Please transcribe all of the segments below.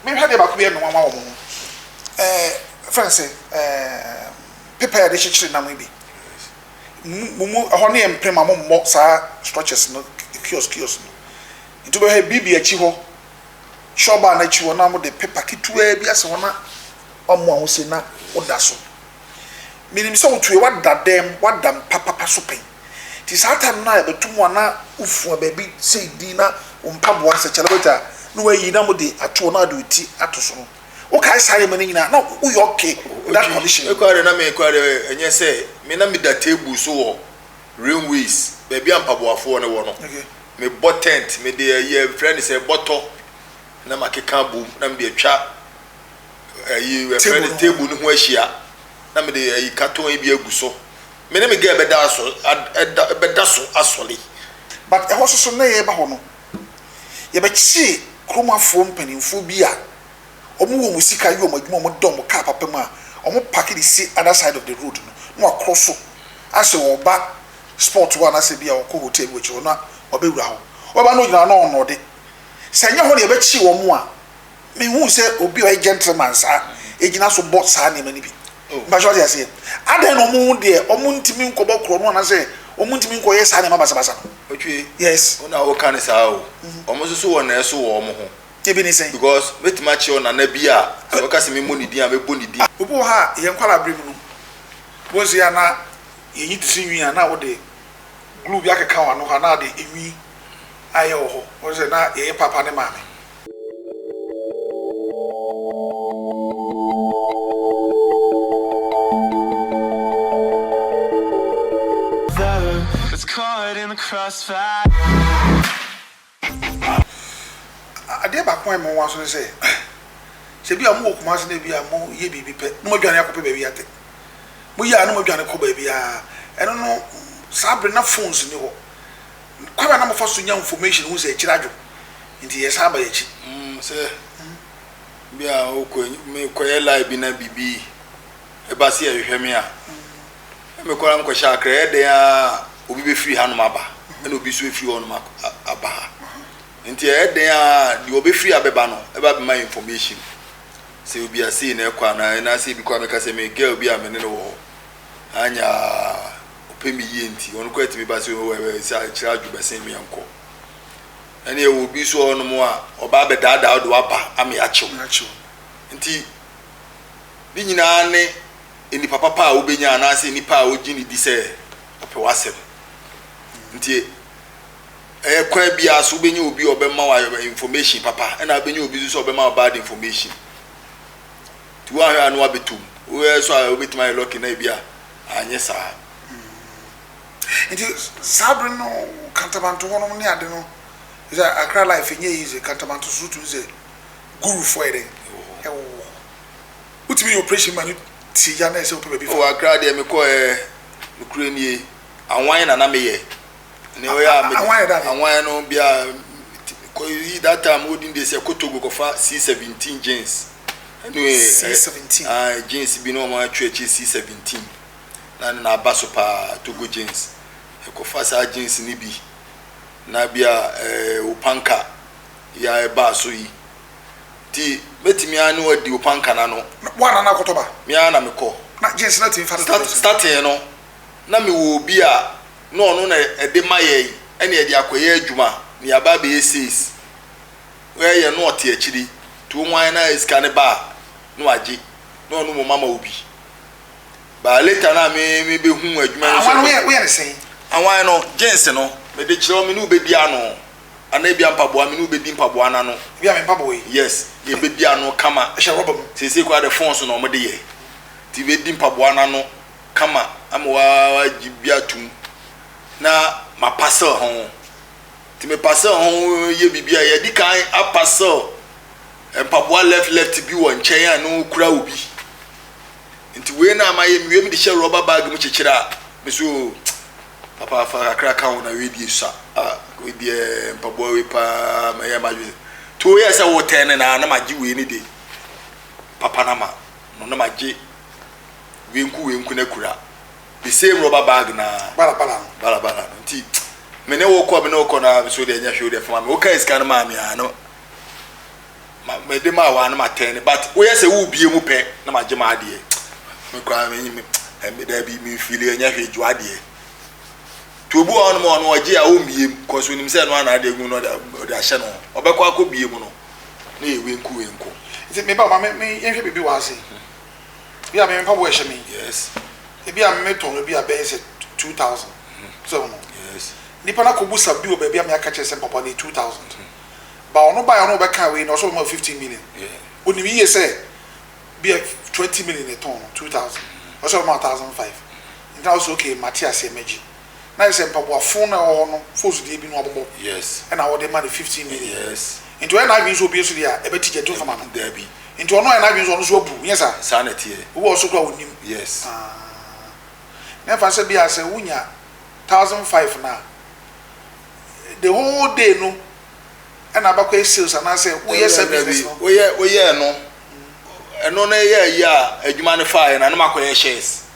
Menhwɛ adeɛ baako bi a ɛyɛ me nwanwa wɔ mo ho. Eh, yɛfrɛ no sɛ eh, paper a yɛde kyekyere nam yi bi. Mo mu, ɛhɔ no yɛ mpem a mommɔ saa structures no, kiosk kiosk no. Nti wobɛhwɛ BB akyi hɔ, Shaw bar no akyi hɔ na wɔde paper ketewaa bi asɛ hɔ na wɔamoa ho sei na woda so. Menim sɛ wotue, woada dam, woada mpa papa so pɛn. Nti saa time no a yɛbɛto mu a na wofua baabi sei din na wo mpaboa sɛ celebrity a na wayi na mode ato hɔ na wode wo ti ato so no, wokae saa nneɛma no nyinaa a na woyɛ okay with that condition? Me koraa deɛ na me koraa deɛ ɛnyɛ sɛ me na meda table so wɔ railways baabi a mpaboafoɔ no wɔ no, mebɔ tent, mede ayi a yɛfrɛ no sɛ bɔtɔ na makeka abom na mede atwa ayi yɛfrɛ no table no ho ahyia na mede ayi carton bi agu so. me ne me girl bɛda asɔ ad ɛda bɛda so asɔre. But ɛhɔ nso so na yɛreba hɔ no, yɛbɛkyee kurom afoɔ mpanimfoɔ bi a wɔn wɔ wɔn sika yɛ wɔn adwuma a wɔda wɔn car papa mu a wɔn parke de si other side of the road no na wɔakoro so asɛ wɔreba spot hɔ anaasɛ bi a wɔkɔ hotel bi wɔ akyire hɔ na wɔabɛwura hɔ. Wɔba no ɔgyina hɔ na ɔnɔɔde. Sɛ ɛnyɛ hɔ na yɛbɛkyee wɔn a, menhuu sɛ obi a ɔyɛ gentleman saa gyina so bɔ saa nneɛma no bi. Mpakyɛ wate aseɛ? Adɛn na wɔn ho deɛ wɔn ntumi nkɔbɔ korɔ no anasɛ wɔn ntumi nkɔyɛ saa nneɛma basabasa no? Otwei, Yes. Wo na woka no saa o. Wɔn nso so wɔn na ɛso wɔ wɔn ho. Ebi ne sɛn? Because mɛtumi akyerɛ wo nana bi a sɛ ɔka sɛ memmɔ ne din a mɛbɔ ne din. Obi wɔ ha a yɛn nkwadaa bere mu no, wɔn nso yɛ a na yɛyi ti so nwi a na wode glue bi akeka wɔn ano hɔ a na wode nwi ayɛ wɔ hɔ. Wɔn sɛ na yɛyɛ papa ne maame. Adeɛ baako a ɛma wɔn aso ne sɛ, sɛ ebi a wɔwɔ Kumasi na ebi a wɔyɛ biribi pɛ na wɔadwane akɔpɛ baabi atɛ. Wɔyɛ a na wɔdwane kɔ baabiara. Ɛno no, saa bere no na phones nni hɔ. kwan a na mo fa so nya nfɔmehyin ho nsɛnkyerɛ adwo nti yɛ san ba yɛ akyi. Mm sɛ bi a o kɔ me kɔ yɛ lai bi na bibi ɛba si ɛhwehwɛ me a na me kɔ na me kɔ hyɛ akra yɛ dɛn a obi bɛ firi ha nom aba ɛna obi so efiri hɔ nom aba ha nti ɛyɛ dɛn a deɛ ɔbɛ firi ha bɛba no ɛba bɛ ma yɛ nfɔmehyin sɛ obi a sei na ɛkɔ anaa ɛna sɛ ebi kɔ a mɛka sɛ me girl bi a me ne no wɔ hɔ anya. ɔpɛ me yie nti, ɔno koraa tumi ba sɛ oh ɛbɛ sɛ akyerɛ adwo bɛsen me nkɔ. Ɛne ɛwɔ obi nso wɔ hɔnom a ɔba abɛdaadaa ɔde waba ama yɛakyew. Yɛakyew. Nti ne nyinaa ne nnipa papa a wobɛnya anaasɛ nnipa a wogye ne di sɛ ɔpɛ w'asɛm. Nti ɛyɛ kwan biara so wobɛnya obi a ɔbɛma wɔ information papa ɛna wobɛnya obi nso sɛ ɔbɛma wɔ bad information. Nti woanhwɛ a na wabɛtɔ mu. Woyɛ so a wobɛtumi ayɛ lɔki na ebi a Anyɛ saa. Nti saa bere no kantamanto hɔ nom ne ade no sɛ Accra life ɛnyɛ easy kantamanto so wotumi sɛ guru foɔ yɛ dɛn ɛwɔ hɔ wotumi yɛ operation ma no tie gya na ɛsɛ wopɛ baabi fa. Oh Accra deɛ mekɔɛ nokorɛ nie awan na na meyɛ ne ɔyɛ a mede Anwa yɛ dade. anwa yɛ no bia kɔyi that time wodin de sɛ kotogo kɔfa c17 jeans ɛne eh, C17. ah, jeans bi na ɔmo atwe akyi c17 na ne na aba so paa togo jeans ɛkɔfa saa jeans ne bi na bia eh, opanka yi a ɛbaa so yi ti mɛtumi a ne wadi opanka na no Na- Woana na akɔtɔ ba? me ara na mekɔ Na jeans na tumi fa no start totɔ so. starting no na mewɔ obi a na ɔno na ɛde ma yɛn ɛna yɛde akɔyɛ adwuma na yɛaba abɛyɛ seis wɛ yɛ na ɔte akyiri nti wɔn ayɛ na sika ne ba a na wagye na ɔno mmom ama obi baa later na me mebɛhu adwuma no sɛ woyɛ ne sɛn awan no gyens no mede kyerɛ wo me ne wobɛdi ano anaa ebi ampaboa me ne wobɛdi mpaboa no ano ebi a me mpaboa yi yes yɛbɛdi ano kama ɛhyɛ rɔba mu seesei koraa de fon so na wɔde yɛ nti bɛdi mpaboa no ano kama ama wɔagye bi atom na mapasel ho. Nti mepasel ho yɛ biribi a yɛde kan apasel mpaboa left left bi wɔ nkyɛn a na okura obi. Nti wei na ama yɛ mewie mede hyɛ rɔba bag mu kyekyere a me so papa fa kakra ka ho na wei deɛ sua a wei deɛ mpaboa wei paa ma yɛ ma dwe. Nti woyɛ sɛ wotɛn ne na na magye wei ne de papa na ma no na magye wenku wenku na kura the same rubber bag na balabala no balabala no nti me ne wokɔ me ne wokɔ na so deɛ nyɛ hwee deɛ fama me woka sika no maa me a no mede maa wɔ a no matɛn ne but woyɛ sɛ wobie mu pɛ na magye ma adeɛ me koraa me me ɛmɛ daa bi me fili ɛnyɛ hwee gye adeɛ to obi wɔ hɔ nom a ɔno ɔgye a ɔmmie mu kɔ so nim sɛ ɛno ana adeɛ gu no ɔde ahyɛ no ɔbɛkɔ akɔ bie mu no na yɛ wenku wenku nti me ba ma me me yɛnhwɛ biribi wɔ ase Ebia me mpaboa a ɛhyɛ me yi, ebia metɔn no bi a ɛbɛyɛ sɛ two thousand. So ɔho no, nipa no akɔbu sa bi wɔ baabi a me aka kyerɛ sɛ mpaboa no yɛ two thousand. Ba ɔno baeɛ ɔno ɔbɛka wei na ɔsɛ ɔma fifteen million. Onim yie sɛ bi a twenty million na ɛtɔn no two thousand. Ɔsɛ ɔma thousand five. Nti na wo sɛ okay mate aseɛ mɛgye. na ayɛ sɛ mpaboa fon no a ɛwɔ hɔ no fosdeɛ bi no abobɔ Yes. ɛna wɔde ma no fifteen million Yes. nti ɔyɛ n'adwene sɛ obue nso deɛ a ɛbɛte gya tu mfama no Daabi. nti ɔno ayɛ n'adwene sɛ ɔno nso abu nyɛ saa? Saa na ɛteɛ. Obi wɔ hɔ nso koraa a ɔnnim. Yes. Aah. Na ɛmfa sɛ bia sɛ wonya thousand five no a the whole day no ɛna aba kɔyɛ sales anaasɛ woyɛ saa business no. Woyɛ woyɛɛ no ɛno na ɛyɛ ayi a adwuma no faeɛ no ɛna makɔyɛ shares.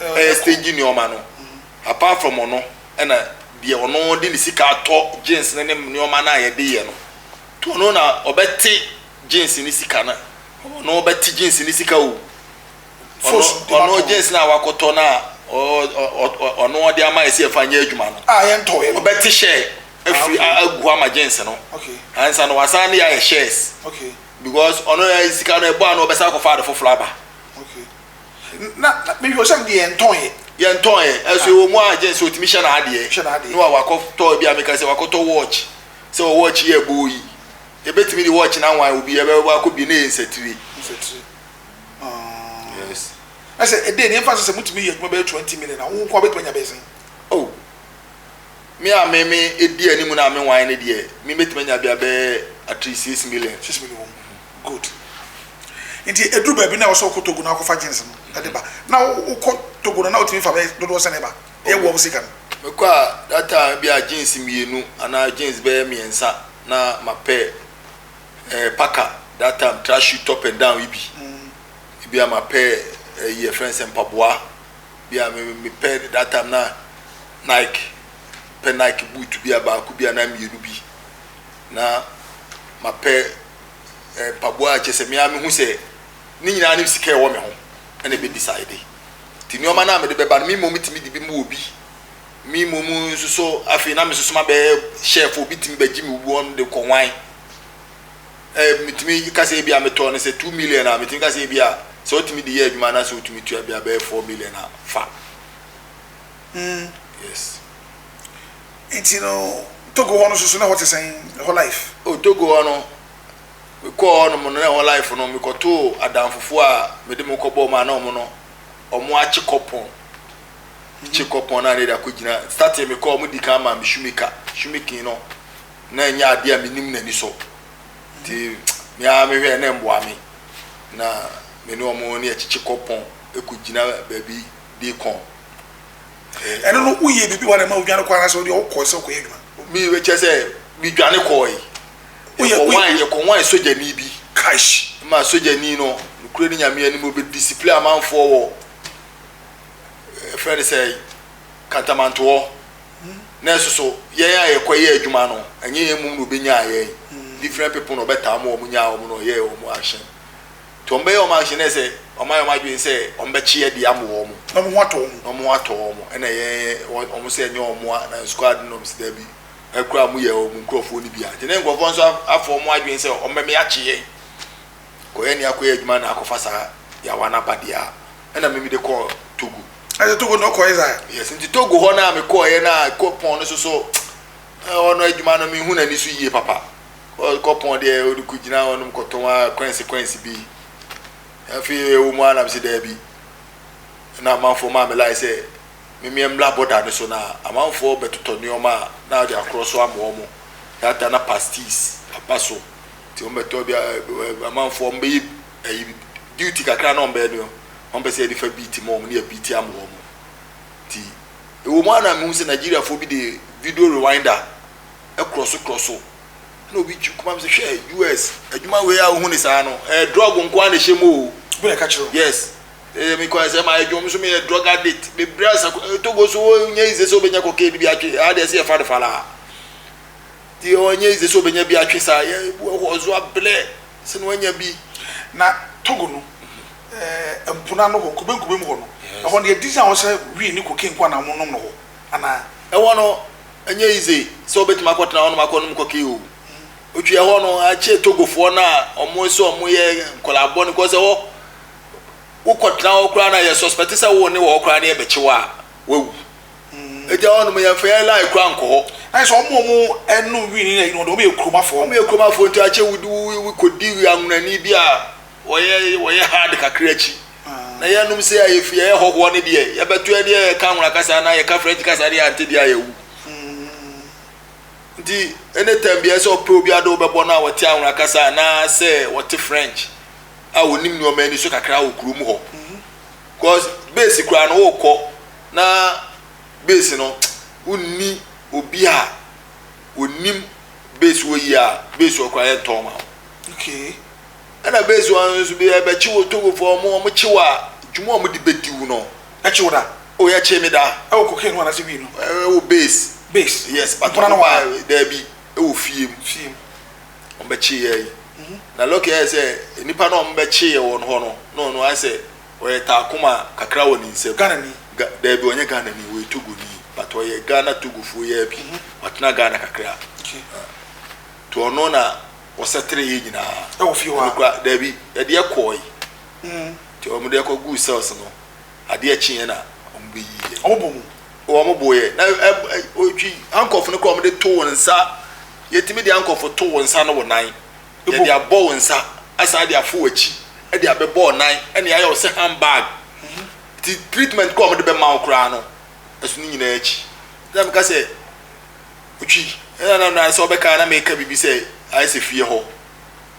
ɛyɛ stingy nneɛma no apart from ɔno ɛna deɛ ɔno de ne sika atɔ jeans ne ne nneɛma no a yɛde yɛ no to ɔno na ɔbɛte jeans ne sika no ɔno ɔbɛte jeans ne sika o ɔno ɔno jeans no a wakɔtɔ no a ɔno ɔde ama yɛ sɛ yɛfa nyɛ adwuma no a yɛntɔ yɛ ɔbɛte hyɛ afiri agu ama jeans no ansa no wasan ne yɛ ayɛ shares because ɔno yɛ sika no ɛbɔ ano ɔbɛsan akɔfa ade foforɔ aba Na mehwɛ o sɛ mede yɛn ntɔɔeɛ. Yɛn ntɔɔeɛ ɛso ɛwɔ mu a gyɛn sɛ ɔtumi hyɛ n'adeɛ. Hyɛ n'adeɛ. No a wakɔtɔ ebi a meka sɛ wakɔtɔ watch sɛ wɔ watch yɛ ɛbɔ yi. Yɛbɛtumi de watch no anwan obi ɛbɛba akɔ bie na ɛyɛ nsatire. Nsatire. Ɔɔ. Yes. Na sɛ ɛdɛ ni ɛmfa sɛ sɛ motumi yɛ adwuma bɛyɛ twenty million a wo nko a bɛtumi anya bɛyɛ sɛn? Oh me a me me ɛdi anim no a menwan no deɛ me bɛtumi anya bia bɛyɛ at least six million. Six million. Good. Nti ɛduru baabi no a ɛwɔ sɛ wokɔ Togo na wokɔfa jeans no de ba. Na wokɔ Togo no na wotumi fa bɛyɛ dodoɔ sɛn ba? Yɛ boa wo sika no. Mekɔ a that time ebi a jeans mmienu anaa jeans bɛyɛ mmiɛnsa na ma pɛ eh, paka that time track shoe top and down yi bi. Ebi a ma pɛ ɛyi eh, ɛfrɛ no sɛ mpaboa. Bi a me me pɛ that time na Nike pɛ Nike boot bi a baako bi anaa mmienu bi na ma pɛ. mpaboa a kyerɛ sɛ me ara mehu sɛ ne nyinaa ne sika a ɛwɔ me ho na ɛbɛdecide. Nti nneɛma no a mede bɛba no, me mmom tumi de bi mu wɔ bi. Me mmom nso so afei na mesoso ma bɛyɛ shelf obi tumi bɛgye me wɔn de kɔ hwan. Ɛɛ metumi ka sɛ ebi a metɔ no sɛ two million a metumi ka sɛ ebi a sɛ ɔtumi de yɛ adwuma na sɛ ɔtumi tua bi a bɛyɛ four million a fa. Mm. Yes. Nti no Togo hɔ no soso na ɛhɔ te sɛn ɛhɔ life. Oh Togo hɔ no mekɔɔ hɔ nom no na ɛhɔ life no mekɔtoo adanfofoɔ a mede mo kɔ bɔɔ mu a na ɔmo no ɔmo akye kɔpɔn kye kɔpɔn na nede akɔ gyina starting mekɔɔ ɔmo di kan maa me shoemaker shoemaking no na ɛnyɛ adeɛ a menim na nisɔ nti meaa mehwɛ na mboa me na mene ɔmo ne ɛkyekye kɔpɔn ɛkɔ gyina baabi de kɔn. Ɛno no woyɛ biribi wɔ ha na ɛma wodwane kɔɔ anaasɛ wodeɛ wokɔɔ sɛ wokɔyɛ adwuma? Me kyɛ sɛ medwane kɔɔe. Yɛkɔ wan yɛkɔ wan sogyani bi. Kaish. Ma sogyani no nokorɛ ne nyame anim ɔbɛ discipline amanfoɔ wɔ ɛfrɛ ne sɛ kantamantoɔ. Hmm. Na ɛsoso yɛn a yɛkɔ yɛ adwuma no ɛnyɛ yɛn mmom na ɔbɛnyaa yɛn. Hmm. Different people na ɔbɛtaa mo wɔn nyaa wɔn na ɔyɛɛ wɔn ahyɛn. Nti wɔn bɛyɛ wɔn action dɛ sɛ wɔn ayɛ wɔn adwene sɛ wɔn bɛkye adi ama wɔn. Na wɔn ho atɔ wɔn. Na wɔn ho atɔ wɔn. Ɛna ɛyɛ wɔn sɛ ɛnyɛ wɔn a na squad nom sɛ dabi ɛkura wɔn yɛ wɔn nkorɔfoɔ no bi a. Nti ne nkorɔfoɔ nso afɔ wɔn adwene sɛ wɔn bɛmɛ akye yɛn. Kɔ yɛn ni akɔ yɛ adwuma na akɔ fa saa yawa no aba deɛ a ɛna me me de kɔɔ Togo. Ɛsɛ Togo na ɔkɔ yɛ saa. Yes nti Togo hɔ no a me kɔɔ yɛ no a kɔ pɔn no so so ɛhɔ no adwuma no me hu na ni so yie papa. Kɔ pɔn deɛ wode kɔgyina hɔ nom kɔtɔn ara kwansi kwansi bi. Afei ɛwɔ mu ara na mese daabi. Ɛna amanfoɔ maa me line sɛ memmeɛ mmra bɔda no so na amanfoɔ bɛtotɔ nneɛma a na wɔde akorɔ so ama wɔn. That time na pasties aba so nti wɔbɛtɔ bi amanfoɔ wɔbɛyɛ ayi duty kakra na wɔbɛyɛ no wɔmpɛ sɛ yɛde fa beat ma wɔn ne yɛbeat ama wɔn. Nti ɛwɔ mu ara na mehu sɛ Nigeriafoɔ bi de video rewinder krɔso krɔso na obi twi kuma mi sɛ hwɛ US adwuma wei a ohun ne saa no ɛɛ drug nko ara na ɛhyɛ mu o. Obi na ɛka kyerɛ. Yes. Ɛyɛ mi kɔ ɛsɛ maa adwuma mi nso mi yɛ drug addict bebree asa Togo nso o nyɛ yize sɛ obenya cocaine bi atwi ɛha deɛ ɛsɛ yɛ fa no fa laa ti ɔ nyɛ yize sɛ obenya bi atwi saa yɛ ebu wɔ hɔ ɔzo ablɛ sɛ na wanya bi. Na Togo no ɛɛ mpona no hɔ kube nkube mu hɔ no ɛhɔ no yɛ di sɛ a ɔsɛ weed ne cocaine nko ara na wɔn nom no hɔ anaa. Ɛhɔ no. Ɛnyɛ easy sɛ wobɛtumi akɔtena hɔnom akɔnom kɔkee o. Wotwiɛ hɔ no, akyɛ Togofoɔ no a wɔn sɛ wɔn yɛ nkɔlaa bɔne kɔ sɛ hɔ. Wokɔtena hɔ koraa na yɛ suspect sɛ wo ne wɔ hɔ koraa na yɛbɛkye wɔ a wawu. Ɛgya hɔ nom yɛmfa yɛ line koraa nkɔ hɔ. Ayɛ sɛ wɔn wɔn ɛno wini na ɛyino wɔn yɛ kuromafoɔ. Wɔn yɛ kuromafoɔ nti akyɛ wudi wikɔdi anwunani bi a Wɔyɛ wɔyɛ hard kakra akyi na yɛnom sei a yɛfiri yɛyɛ hɔhoɔ no deɛ yɛbɛtoɛ deɛ yɛka nwona kasa anaa yɛka french kasa deɛ ante deɛ ayɛwu nti ɛne tam biɛ sɛ ɔpɛ obi ade wobɛbɔ no a wɔte anwona kasa anaa sɛ wɔte french a wɔnim nneɛma ani so kakra wɔ kurom hɔ cause base koraa no wokɔ na base no wonni obi a wɔnim base wɔ yi a base wɔ koraa yɛntɔn ma okay ɛna base wɔn nso bi ɛbɛkye wɔ togofoɔ ɔmo ɔmo kye wɔ a dwuma ɔmo de bɛdi wo no ɛkye wo da o yɛkye me da ɛwɔ cocaine ho anase wii no ɛwɔ base base yes but ɔmo ba daabi ɛwɔ fie mu fie mu ɔmo bɛkye yɛ yi na lɔki ayɛ sɛ nipa na ɔmo bɛkye yɛ wɔn hɔ no na ɔno ayɛ sɛ ɔyɛ taakoma kakra wɔ ne nsam Ghana ni daabi ɔnyɛ Ghana ni ɔyɛ togo ni but ɔyɛ Ghana togofoɔ yɛ bi watena Ghana kakra to ɔno na. wɔsɛtere yɛ nyinaa ɛwɔ fie hɔ a daabi ɛdeɛ kɔɔe mm. nti wɔn deɛ kɔ guu cells no adeɛ kyeeɛ na wɔn bɛ yiiɛ wɔn bɔ mu wɔn bɔ yɛ na ɛ ɛ otwi ankɔfo no kɔ wɔn de to wɔn nsa yɛtumi de ankɔfo to wɔn nsa no wɔ nan yɛde abɔ wɔn nsa asan de afo wɔn akyi ɛde abɛbɔ wɔn nan ɛne ayɛ wɔn sɛ handbag mhm. ti treatment kɔ wɔn de bɛ ma wɔn koraa no ɛso ne nyinaa akyi ɛna mi ka sɛ. Otwi, ɛna na na sɛ ɔbɛka na meka biribi sɛ ayɛ sɛ fie hɔ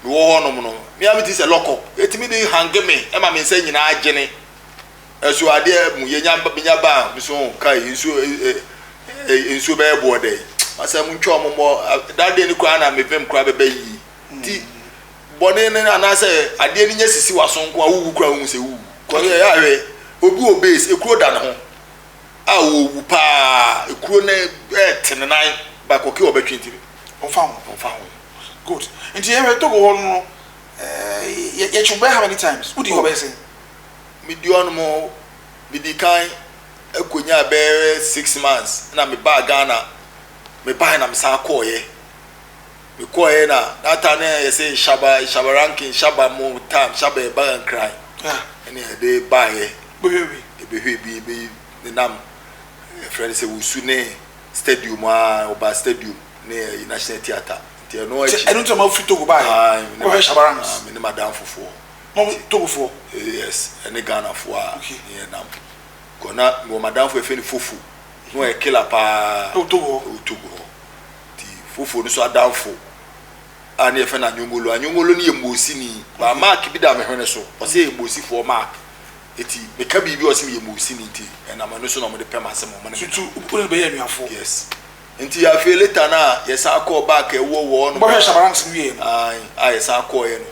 mewɔ hɔ nom no me a mete sɛ lɔkɔ ɛtumi de hange me ɛma me nsa nyinaa gyene ɛso adeɛ mu yɛnya menya baa me so ka nsuo nsuo bɛyɛ boɔ dɛ asɛ mu ntwa ɔmo mɔ dadeɛ no koraa na mebɛm koraa bɛbɛ yi ti bɔne no anaasɛ adeɛ no nyɛ sisi waso nko a wowu koraa wohu sɛ wowu kɔyɛ yɛ ahwɛ obi wɔ base ekuro da ne ho a wɔwu paa ekuro no ɛɛtene nan ba kɔkɛ ɔbɛtwe ntire ɔmfa ho ɔmfa ho good nti yɛhwɛ togo hɔ no ɛɛ yɛtwe bɛyɛ how many times wodi hɔ bɛyɛ sɛ medi ɔno mo medi kan akɔnya bɛyɛ six months na mebaa ghana mebae na mesan kɔɔyɛ Mekɔeɛ na that time no yɛ sɛ nhyaba nhyaba ranking nhyaba mo time nhyaba yɛ baga nkran ɛna yɛde baeɛ ɛbɛhwɛ bi ɛbɛ nenam ɛfrɛ no sɛ wusu ne stadium a ɔba stadium ne ɛyɛ national theatre nti ɛno akyi ɛno nti ma firi togo baeɛ kɔhwɛ nhyaba ranks me ne madam fofoɔ mo togofoɔ yes ɛne ghanafoɔ a ne yɛ nam kɔ na wɔ madamfoɔ ɛfɛ ne fofo na ɔyɛ killer paa ɛwɔ togo hɔ Nti foforo no nso adamfo a ne yɛfɛ no Anyongolo. Anyongolo no yɛ Mosini. Ba mark bi da me hwene so. Ɔsɛ yɛ Mosifoɔ mark. Nti meka biribi ɔsɛ meyɛ Mosini nti ɛnam ɛno so na wɔde pɛ m'asɛm wɔn ne me Tutu wopɛ sɛ bɛyɛ anuafoɔ. Yes. Nti afei later no a yɛsan kɔɔ back a ɛwɔ wɔ hɔnom. Bɔhwɛ Shabaranks no wieɛ no. Ae a yɛsan kɔeɛ no.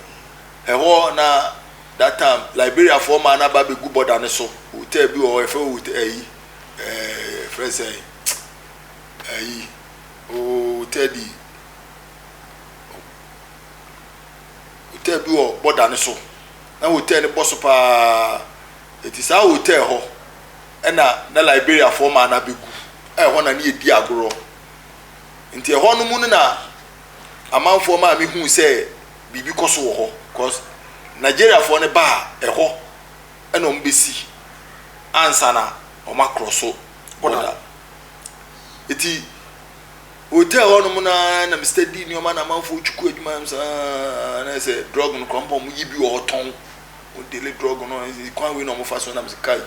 Ɛhɔ na that time Liberiafoɔ maa no aba abɛgu border no so. Hotel bi wɔ hɔ yɛfɛ hɔ hotel ɛyi ɛɛ yɛfrɛ no sɛn? Ayi ooh Teddy Hotel bi wɔ bɔda no so na hotel no bɔ so paa ɛti saa hotel hɔ ɛna na Liberiafoɔ maa no abɛgu ɛhɔ na ne yɛdi agorɔ nti ɛhɔ no mu no na amanfoɔ maa me huu sɛ biribi kɔ so wɔ hɔ cause Nigeriafoɔ no baa ɛhɔ ɛna wɔn bɛsi ansa na wɔn akorɔ so bɔda Eti hotel hɔnom no ara na Mr. Dii nneɛma na amanfoɔ retwi kɔ adwuma nom saa na sɛ drug no kora mpo wɔn yi bi wɔ hɔ tɔn wɔn dele drug no ɛnti kwan wei na wɔn fa so nam sɛ kai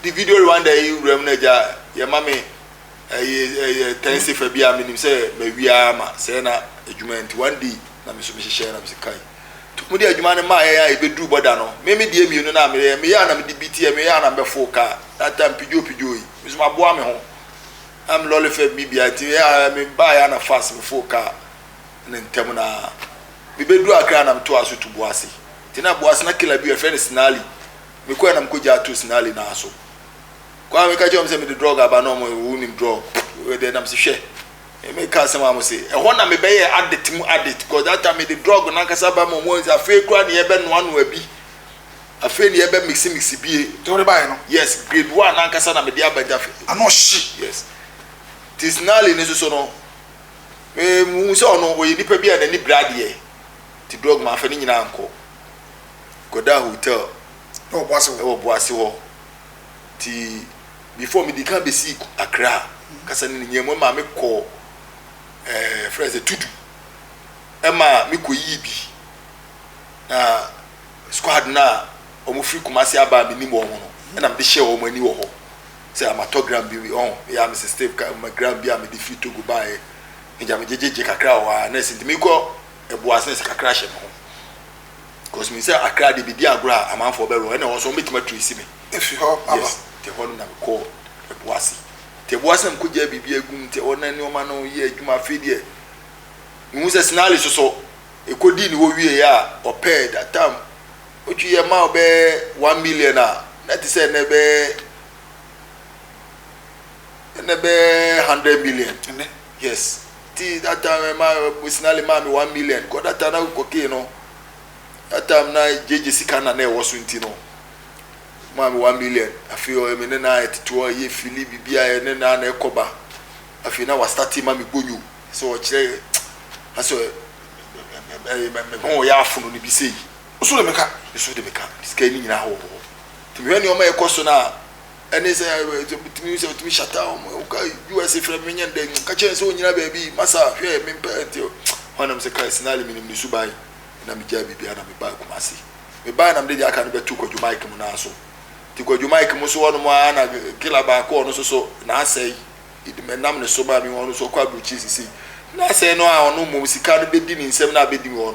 di video Rwanda yi wura mu na gya yɛ ma me ɛyɛ ɛyɛ tɛn sefa bi a menim sɛ mawia ama sɛ na adwuma nti one day na me nso mehyehyɛ nam sɛ kai to mu de adwuma no maeɛ a ɛbɛduru bɔda no, me me deɛ mmienu no a meyɛɛ, meyɛ a na mede bi teɛ, meyɛ a na mɛfoo kaa, that time pidgio pidgio yi, me nso maboa me ho, na me lɔle fam me bia, nti ɛyɛ a me baeɛ a na fast mefoo kaa no ntɛm no ara. Mebɛduru Accra a na metoa so to Boase, nti na Boase na killer bi wɔ hɔ, yɛfrɛ no Sinali, mekɔɛ a na mekɔgyaa too Sinali no ara so, kɔ a meka kyerɛ wɔn sɛ mede drug aba, na wɔn, wonim drug, wei deɛ na mese hwɛ. Me ka asɛm a mo se ɛhɔ na me bɛ yɛ adit mu adit cause that time me de drug na nkasa ba mu ɔmo nse afei kura ne yɛ bɛ noa noa bi afei ne yɛ bɛ mixi mixi bie. Ti ɔde ba yɛ no. Yes grade one na nkasa na me de aba jafe. Ano ɔhye. Yes ti snarly ne soso no me mu hu sɛ ɔno ɔyɛ nipa bi a na ni bere adeɛ ti drug ma nfa ne nyina ankɔ kɔ da hotel ɛwɔ boase hɔ ti. Before mede kan bɛsii Accra kasa no ne nyaa mu ma me kɔɔ eh, frɛ sɛ Tudu ɛma me kɔ yii bi na squad no a wɔn firi Kumasi aba a menim wɔn no ɛna mede hyɛ wɔn ani wɔ hɔ sɛ amatɔ gram bi ɔn oh, yɛ a mese step ka ma gram bi a mede firi Togo baeɛ megya megyegyegye kakra wɔ hɔ a na ɛsɛ nti mekɔ ɛboase na ɛsɛ kakra hyɛ me ho Cos menim sɛ akra deɛ bedi agorɔ a amanfoɔ bɛwerɛ ɛna ɛwɔ so wɔbɛtumi atresi me. Efi hɔ aba. Yes, te hɔ no na me kɔɔ Ɛboase. Te Ɛboase na me kɔ gyaa biribi agu mu te hɔ na nneɛma no yɛ adwuma afei deɛ me hu sɛ Snally soso ɛkɔ dii ne hɔ wie yɛ a ɔpɛɛ that time Otwi yɛ ma wo bɛɛ one million a na te sɛ ɛnɛ bɛɛ ɛnɛ bɛɛ hundred million. Ɛnɛ. Yes. ti that time ɛma sinali maa mi one million kɔ that time na cocaine no that time na gyegye sika na na ɛwɔ so nti no maa mi one million afei ɔyɛ mi ne na ɛtete hɔ ɛyɛ fili bibi a ɛne na na ɛkɔ ba afei na wasitati ma mi bonyo sɛ ɔkyerɛ asɛ ɛyɛ mɛ mɛ ho yɛ afono ne bi sɛ yi nso de mi ka nso de mi ka sika yi ne nyinaa wɔ hɔ tumi hwɛ nneɛma ɛkɔ so na. ɛne sɛ tumi sɛ tumi shata wɔn mu ka us efra mi nyɛ ndɛ ka kyɛn sɛ onyina baabi masa hwɛ mi mpɛ ɛnti wɔn nam sɛ kai sinali mi nim ne suban na mi gya biribi na mi ba kumasi mi ba na mi de di aka no bɛ tu kwadwo mike mu naa so ti kwadwo mike mu so wɔn mu ara na kila baako ɔno soso na asɛ yi edi mɛ nam ne so ba mi wɔn so kɔ aburukyi sisi na asɛ no a ɔno mu sika no bɛ di ne nsam na abɛ di wɔn.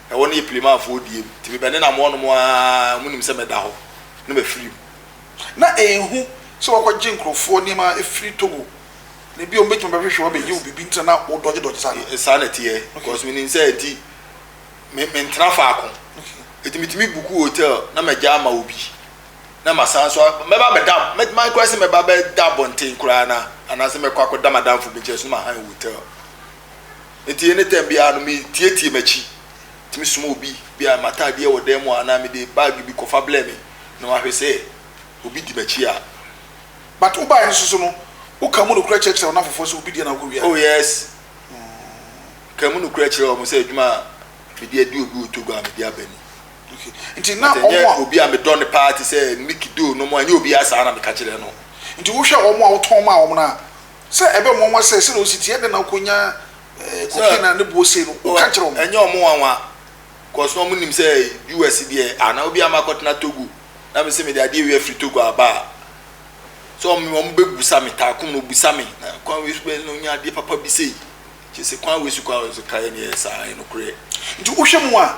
Na wɔn yɛ Pilimanfoɔ deɛ mu, nti mebɛnenam wɔnom ara, wɔnim sɛ mɛda hɔ na mafiri mu. Na ɛnhu sɛ wɔakɔgye nkurɔfoɔ nneɛma afiri Togo, na ebia wɔbɛtumi abɛhwehwɛ wo abɛgye wo biribi, nti na na wodɔgyedɔgye saa no. Saa na ɛteɛ, because menim sɛ nti me, mentena faako, nti metumi buku hotel na magya ama obi, na masan nso a, mɛba abɛda, mɛtumi koraa sɛ mɛba abɛda abɔnten koraa na, anaasɛ mɛkɔ akɔda m'adamfo bi nkyɛn nso na mahan hotel. Enti anytime biara no me tietie makyi tumi soma obi bi a mataadeɛ wɔ dan mu a anaa mede bag bi kɔfa blɛ me na mahwɛ sɛ obi di makyi a. But wo bae no soso no wo ka mu nokorɛ kyerɛkyerɛ wɔn afoforɔ sɛ obi deɛ na wokɔ wia. Oh yes ka mu nokorɛ kyerɛ wɔn sɛ adwuma a mede adi obi wɔ Togo a mede aba ni. Okay nti na But wɔn ɛnyɛ a. obi a medɔ no paa te sɛ Mickey Doe nom ɛnyɛ obiara saa na meka kyerɛ no. Nti wohwɛ wɔn a wotɔn maa wɔn no a Sɛ ɛbɛ mo nwa sɛ, sɛdeɛ wosi teɛ, dɛn na wokɔ nya cocaine a ne boɔ sei no, wo ka kyerɛ wɔn. Ɛnyɛ wɔn nwanwa, cos na wɔn nim sɛ US deɛ a na obiara mma kɔtena Togo, na me se mede adeɛ wei afiri Togo aba a, sɛ wɔn wɔn bɛ busa me, Taakum no busa me, na kwan wei so bɛyɛ na onya adeɛ papa bi sei, kyese kwan wei so koraa wɔn so kaeɛ no yɛ saa, ɛyɛ nokorɛ. Nti wohwɛ mu a,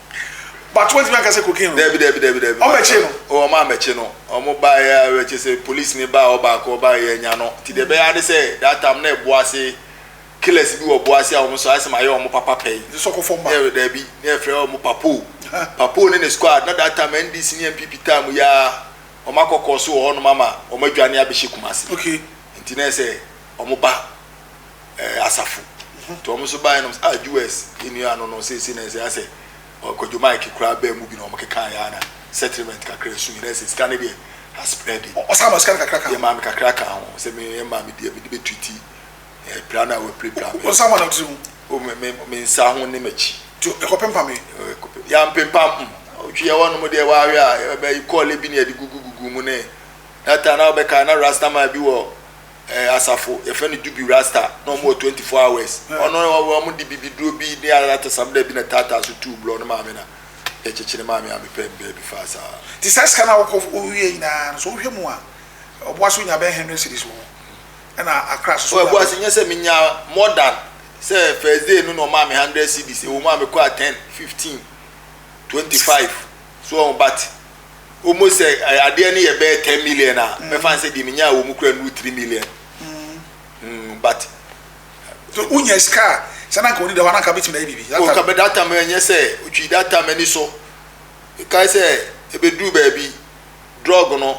but wantumi anka sɛ cocaine wɔ mu. Dabi dabi dabi dabi. Wɔn bɛkye no. O wɔn ammɛkye no. Wɔn baa yɛ a kyerɛ sɛ police ni baa hɔ baako ɔbaa yɛ anya no. Nti deɛ ɛbɛyɛ ara ne sɛ that time na ɛbo ase killers bi wɔ bo ase a wɔn nso ayɛ sɛ ma yɛ wɔn papa pɛn. Nti sɔkɔ fam ba. Yɛ dabi na yɛfrɛ wɔn papo. Papo ne ne squad na that time NDC ne NPP time yi ara wɔn akɔ kɔɔ so wɔ hɔnom ama wɔn adwane abɛhyɛ Kumasi. Okay. Nti na ɛsɛ wɔn ba. eh, asafo nti wɔn nso baeɛ nom a us nnua no no seesei na ɛsɛ asɛ ɔkwadwo mike koraa bɛɛ mu bi na wɔn keka yɛ ana settlement kakra esu nyinaa sɛ sika ne deɛ aspread ɔsan ma sika no kakra ka yɛ maame kakra ka ho sɛ me yɛ maame deɛ mede bɛtu ti ɛpira no a wɔapirapira me ɔsan ma nam tiri mu o me me me nsa ho ne m'akyi nti ɛkɔpempa me yɛampempa m ɔtwi yɛ wɔnom deɛ wɔahwɛ a ɛbɛyi kɔɔle bi ne yɛde gugugugu mu ne na ta na wɔbɛka na rastaman bi wɔ eh, asafo yɛfrɛ no jubi rasta na ɔmo wɔ 24 hours ɔno ɔmo de bibi duro bi ne atasam dɛ bi na taataa so tuu blɔ no maame na yɛkyekye ne maame a mepɛ no baabi faa saa Nti saa sika no a wokɔ wowie nyinaa no so wohwɛ mu a ɔboa so nya bɛyɛ hundred cities wɔ hɔ ɛna akra so so ɔboa so nyɛ sɛ menya more than sɛ first day no na ɔmaa me hundred cities ɛwɔ mu a mekɔ a ten fifteen twenty five so ɔho but almost sɛ eh, adeɛ no yɛ bɛyɛ ten million a mm. mɛfa sɛ deɛ menya wɔ mu kura nuru three million mm. mm but so wonya sika a sɛ na nka wode da hɔ ananka bɛtumi ayɛ biribi oh, ka bɛda tam ɛnyɛ sɛ wotwi da tam ani so kae sɛ ɛbɛduru baabi drug no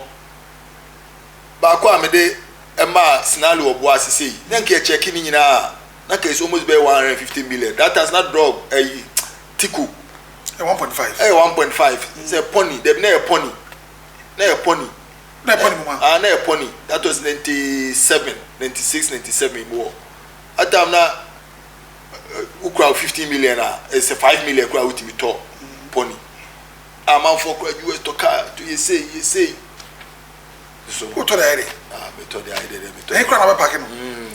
baako a mede ɛmaa sinale wɔ boa ase sei na nka ɛkyɛke ne nyinaa na nka ɛsɛ almost bɛyɛ one hundred and fifty million that time na drug ɛyi Tiko, ɛyɛ one point five. Ɛyɛ one point five sɛ pɔni dɛbi na ɛyɛ pɔni na ɛyɛ pɔni. Na ɛyɛ pɔni mu ma. Ah na ɛyɛ pɔni that was ninety seven ninety six ninety seven mu hɔ atam na wokura fifteen million a ɛsɛ five million kura wotumi tɔ pɔni amanfoɔ kura us tɔ kaa to yɛ sei yɛ sei. so. wotɔ de ayɛ dɛ. ah metɔ de ayɛ dɛ dɛ metɔ. ɛhe kora na wobɛpake no mm.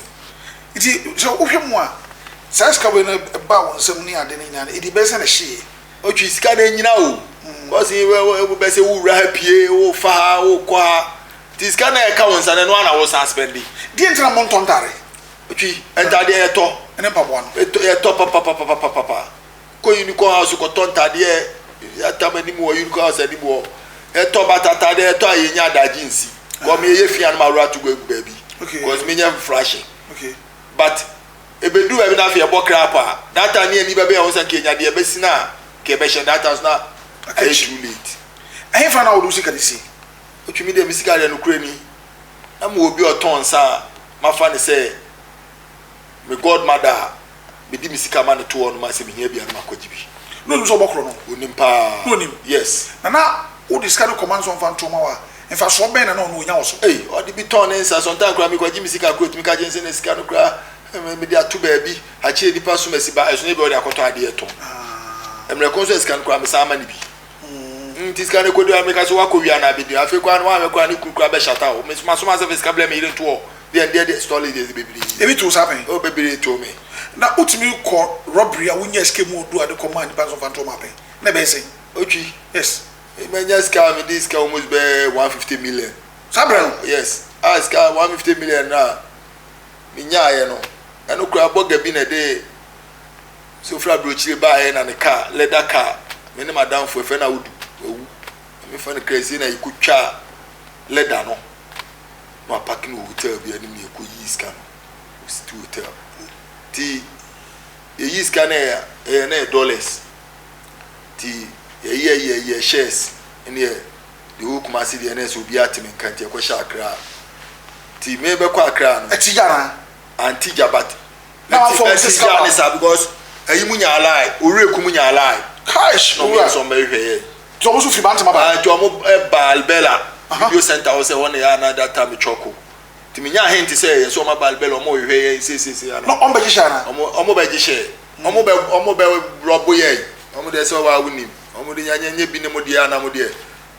nti sɛ wohwɛ mu a saa sika wei no ba wo nsɛm ne ade no nyinaa no ɛdi bɛsɛ ne hyee ɔtwe sika no anyina o mm. kɔse wobɛsɛ wowura ha pie wofa ha wokɔ ha nti sika no ɛka wo nsa no ɛno ana wo san spɛnde deɛ ntina mo ntɔ ntare ɔtwi ntadeɛ yɛtɔ ɛne mpaboa no yɛtɔ papapapapapa kɔ unicorn house kɔtɔ ntadeɛ yɛatam anim wɔ unicorn house anim hɔ yɛtɔ batatadeɛ yɛtɔ a yɛnya adagye nsi kɔ me yɛyɛ fia no ma awura to go agu baabi cause menyɛ frahye but ɛbɛduru baabi no afei ɛbɔ kra paa that time ne ani bɛbɛ ɛho sɛ nka yɛnya deɛ ɛbɛsi no a nka ɛbɛhyɛ that time so na ɛyɛ too late ɛhefa na wode wo sika no si ɔtumi deɛ me sika deɛ nokorɛ ni na mewɔ bi ɔtɔn nsa a mafa ne sɛ me god mother a mede me sika ma no to hɔ no ma sɛ mehia bi a no makɔgye bi na onim sɛ ɔbɔkorɔ no onim paa na onim yes na na wode sika no kɔma no sɛ ɔmfa nto ma wa mfasoɔ bɛn na na ɔno ɔnya wɔ so ei ɔde bi tɔn ne nsa sɔntaa koraa mekɔgye me sika koraa ɔtumi ka gye nsɛ na sika no koraa eh, mede ato baabi akyerɛ nipa so masi ba ɛsono bi ɔde akɔtɔ adeɛ tɔn ah. mmerɛko nso a sika no koraa mesan ma no bi mm nti sika no kɔdua meka sɛ woakɔ wia no abɛdua afei koraa no woanwɛ koraa ne kunu koraa bɛhyata wo mesoma soma sɛ fɛ sika blɛ me yere ntoɔ deɛ ndeɛ deɛ stolly deɛ bebree ebi too sa pɛn o bebree too me na wotumi kɔ robbery a wonya sika mu ɔdu ade kɔma nipa nso fa ntoɔ ma pɛn na ɛbɛyɛ sɛn otwi yes manya sika a mede sika almost bɛ 150 million saa berɛ no yes a sika 150 million no a menyaeɛ no ɛno koraa bɔga bi na ɛde sɛ ofiri aburokyire baeɛ na ne kaa lɛda kaa me ne madamfo ɛfɛ na wodu wawu mefa no kra sie na yɛkɔtwa lɛda no na wapake no wɔ hotel bi anim na yɛkɔ yii sika no wɔ city hotel ti yɛyi sika no ɛyɛ ɛyɛ na yɛ dollars ti yɛyɛ yɛ yɛ shares ne yɛ de wɔ kuma ase deɛ na ɛsɛ obi ate me nka nti yɛkɔhyɛ akra ti mebɛkɔ akra no ɛti gyana anti gya but na wafa wɔn sɛ sika ne saa because ɛyi mu nya alae owurɛ eku mu nya alae cash na wɔn nso bɛhwɛ yɛ tí wɔn nso fi bante ma ba tí wɔn ba albela video center hɔ sɛ wɔn na yɛ anada ta mi twɔko tí mi nya ahen ti sɛ yɛ nso wɔn aba albela wɔn hwehwɛ yɛ nsesese ana wɔn bɛ gyehyɛ ana wɔn bɛ gyehyɛ wɔn bɛ wɔn bɛ rɔbo yɛ wɔn de sɛ wɔn awo nim wɔn de nya nya nya bi ne mo deɛ ana mo deɛ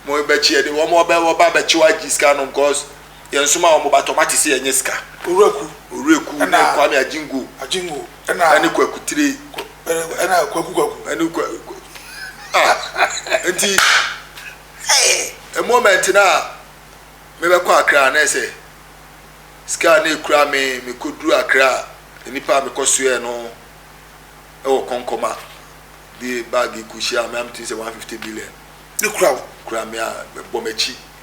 mo bɛ kyi yɛ de wɔn bɛ wɔn ba bɛ kyi wa gyi sika nom cause. Yɛn soma wɔn ba tɔma te sɛ yɛn nyɛ sika. Owuraku. Owuraku ɛna ne Kwame Agyingo. Agyingo ɛna. Ɛne Kwaku Tire. Ɛna Kwaku Kwaku. Ɛne Kwa Kwa ah nti hey moment na mebɛkɔ Accra na ɛsɛ sika na ekura me mekɔduru Accra nipa a mekɔ soɛ no ɛwɔ kɔnkɔma de bag kɔhyia me a metumi sɛ 150 million. Ne kura wo. Kura me a bɔ m'akyi.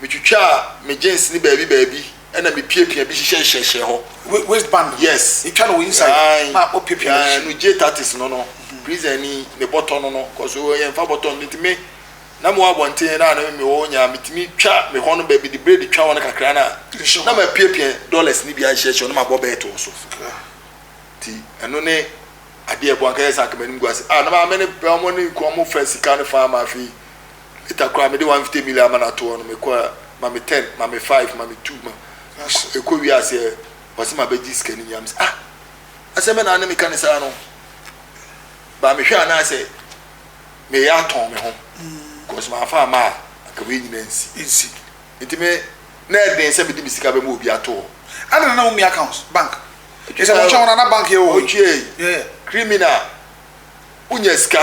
Metwitwaa me jeans no baabi baabi na mipiapia bi hyehyɛhyehyɛɛ hɔ. Waist band no? Yes. Itwa no wɔ inside Ae, na opiapia no hyɛ. no J Tatis no no, prison ni, ne bɔtɔ no no, cos o yɛn fa bɔtɔ no nti me na mewɔ abɔnten na na me wɔ nya metumi twa me hɔ no baabi de braid twa hɔ no kakra na Nhyɛ na hɔ. mapiapia dollars no bi ahyehyɛhyɛ hɔ na mabɔ bɛɛt wɔ so. Gra. Nti ɛno ne adeɛ ɛboa anka yɛ sɛ anka m'anim gu ase. Ah na maame ne pɛ wɔn ne kɔn mo fa sika no faa ma afei Later koraa mede one fifty million ama no ato hɔ no me kɔɔ ma me ten ma me five ma me two ma ɛkɔ wie aseɛ ɔse ma bɛgye sika no nyinaa me sɛ ah asɛm bɛ na ne meka ne saa no ba mehwɛ anaasɛ meyɛ atɔn me ho cause ma afa ama a anka wei nyinaa nsi nsi nti me na ɛden sɛ mede me sika bɛma obi ato hɔ ana na wo mi account bank ɛsɛ mo kyɛn na bank yɛ wɔ hɔ ɔtwie criminal wonya sika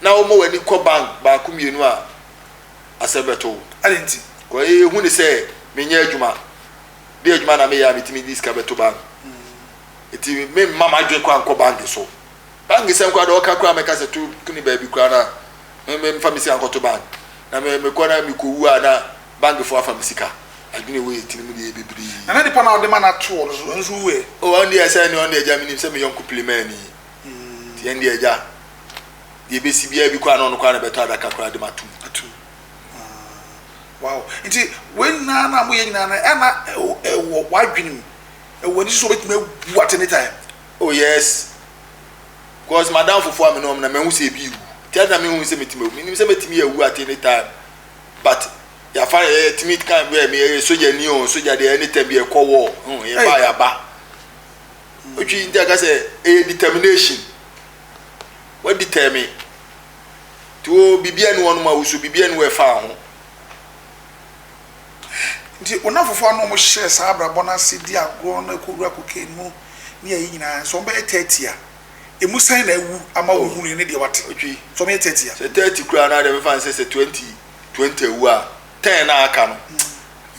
na woma w'ani kɔ bank baako mmienu a, asɛm bɛto wo. Ade nti? Kɔ ee, hu ne sɛ menyɛ adwuma. Deɛ adwuma na meyɛ a metumi de sika bɛto bank. Eti memma m'adwene kora nkɔ bank so. Bank sɛm koraa deɛ ɔka koraa mɛka sɛ to kuni baabi koraa na memfa me sika nkɔto bank. Na mekɔ na mekɔwu a na bankfoɔ afa me sika. Adwene wei yɛ tirim deɛ bebree. Na na nipa no a wode ma no ato hɔ no nso wuiɛ. O ɔno deɛ sɛ ne ɔno deɛ agya menim sɛ me yɔnko Pilimaani. nti ɛnde agya deɛ ɛbɛsi biara bi koraa na ɔno koraa na ɛbɛtɔ adaka koraa de ma atum atum wow nti wei nyinaa na moyɛ nyinaa no ɛna ɛwɔ w'adwene mu ɛwɔ ani so wobɛtumi abu at any time oh yes because madam fofoɔ a me ne ɔm na mahu sɛ ebi wu nti ɛna mehu sɛ mɛtumi awu menim sɛ mɛtumi awu at any time but yɛafa yɛtumi kan bɛ meyɛ sogyani o sogya deɛ anytime bi ɛkɔ wɔ yɛba yɛaba Wotwi nti aka sɛ ɛyɛ determination. Waditɛme. Nti wo biribi ani wɔnom a woso biribi ani wɔ ɛfa ho. Nti wo nnamfofoɔ a na wɔhyɛ saa abrabɔ no ase di agorɔ na ɛkɔwura cocaine mu ne ayi nyinaa sɛ wɔbɛyɛ thirty a, ɛmu sɛn na awu ama wo hunui ne deɛ wate? Wotwi. Sɛ wɔyɛ thirty a. Sɛ thirty koraa no a deɛ mefa no sɛ sɛ twenty twenty awu a ten na aka no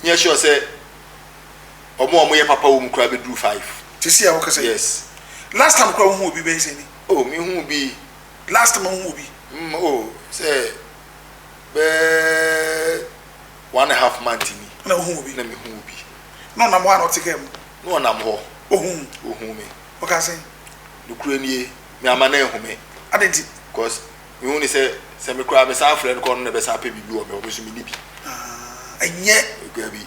nyɛ sure sɛ Ɔmo a ɔmo yɛ papa wɔ mu koraa bɛ duru five. Te se a wo kasa yi. Yes. Last time koraa wo hu obi bɛyɛ sɛn ni? Oh me hu bi. Last time wo hu obi? Mm oh sɛ bɛ one and a half month ni. Na wo hu obi? Na me hu obi. Na ɔnam hɔ a na ɔte kaa mu? Na ɔnam hɔ. Ohu wo? Ohu me. Ɔkaa sɛn? Nokore nie me ama no anhu me. Adɛn nti? Cos me hu ne sɛ sɛ me koraa me san frɛ no kɔ ɔno na ɛbɛ san pɛ biribi wɔ me hɔ me nso me ni bi. Ah ɛnyɛ. Dabi.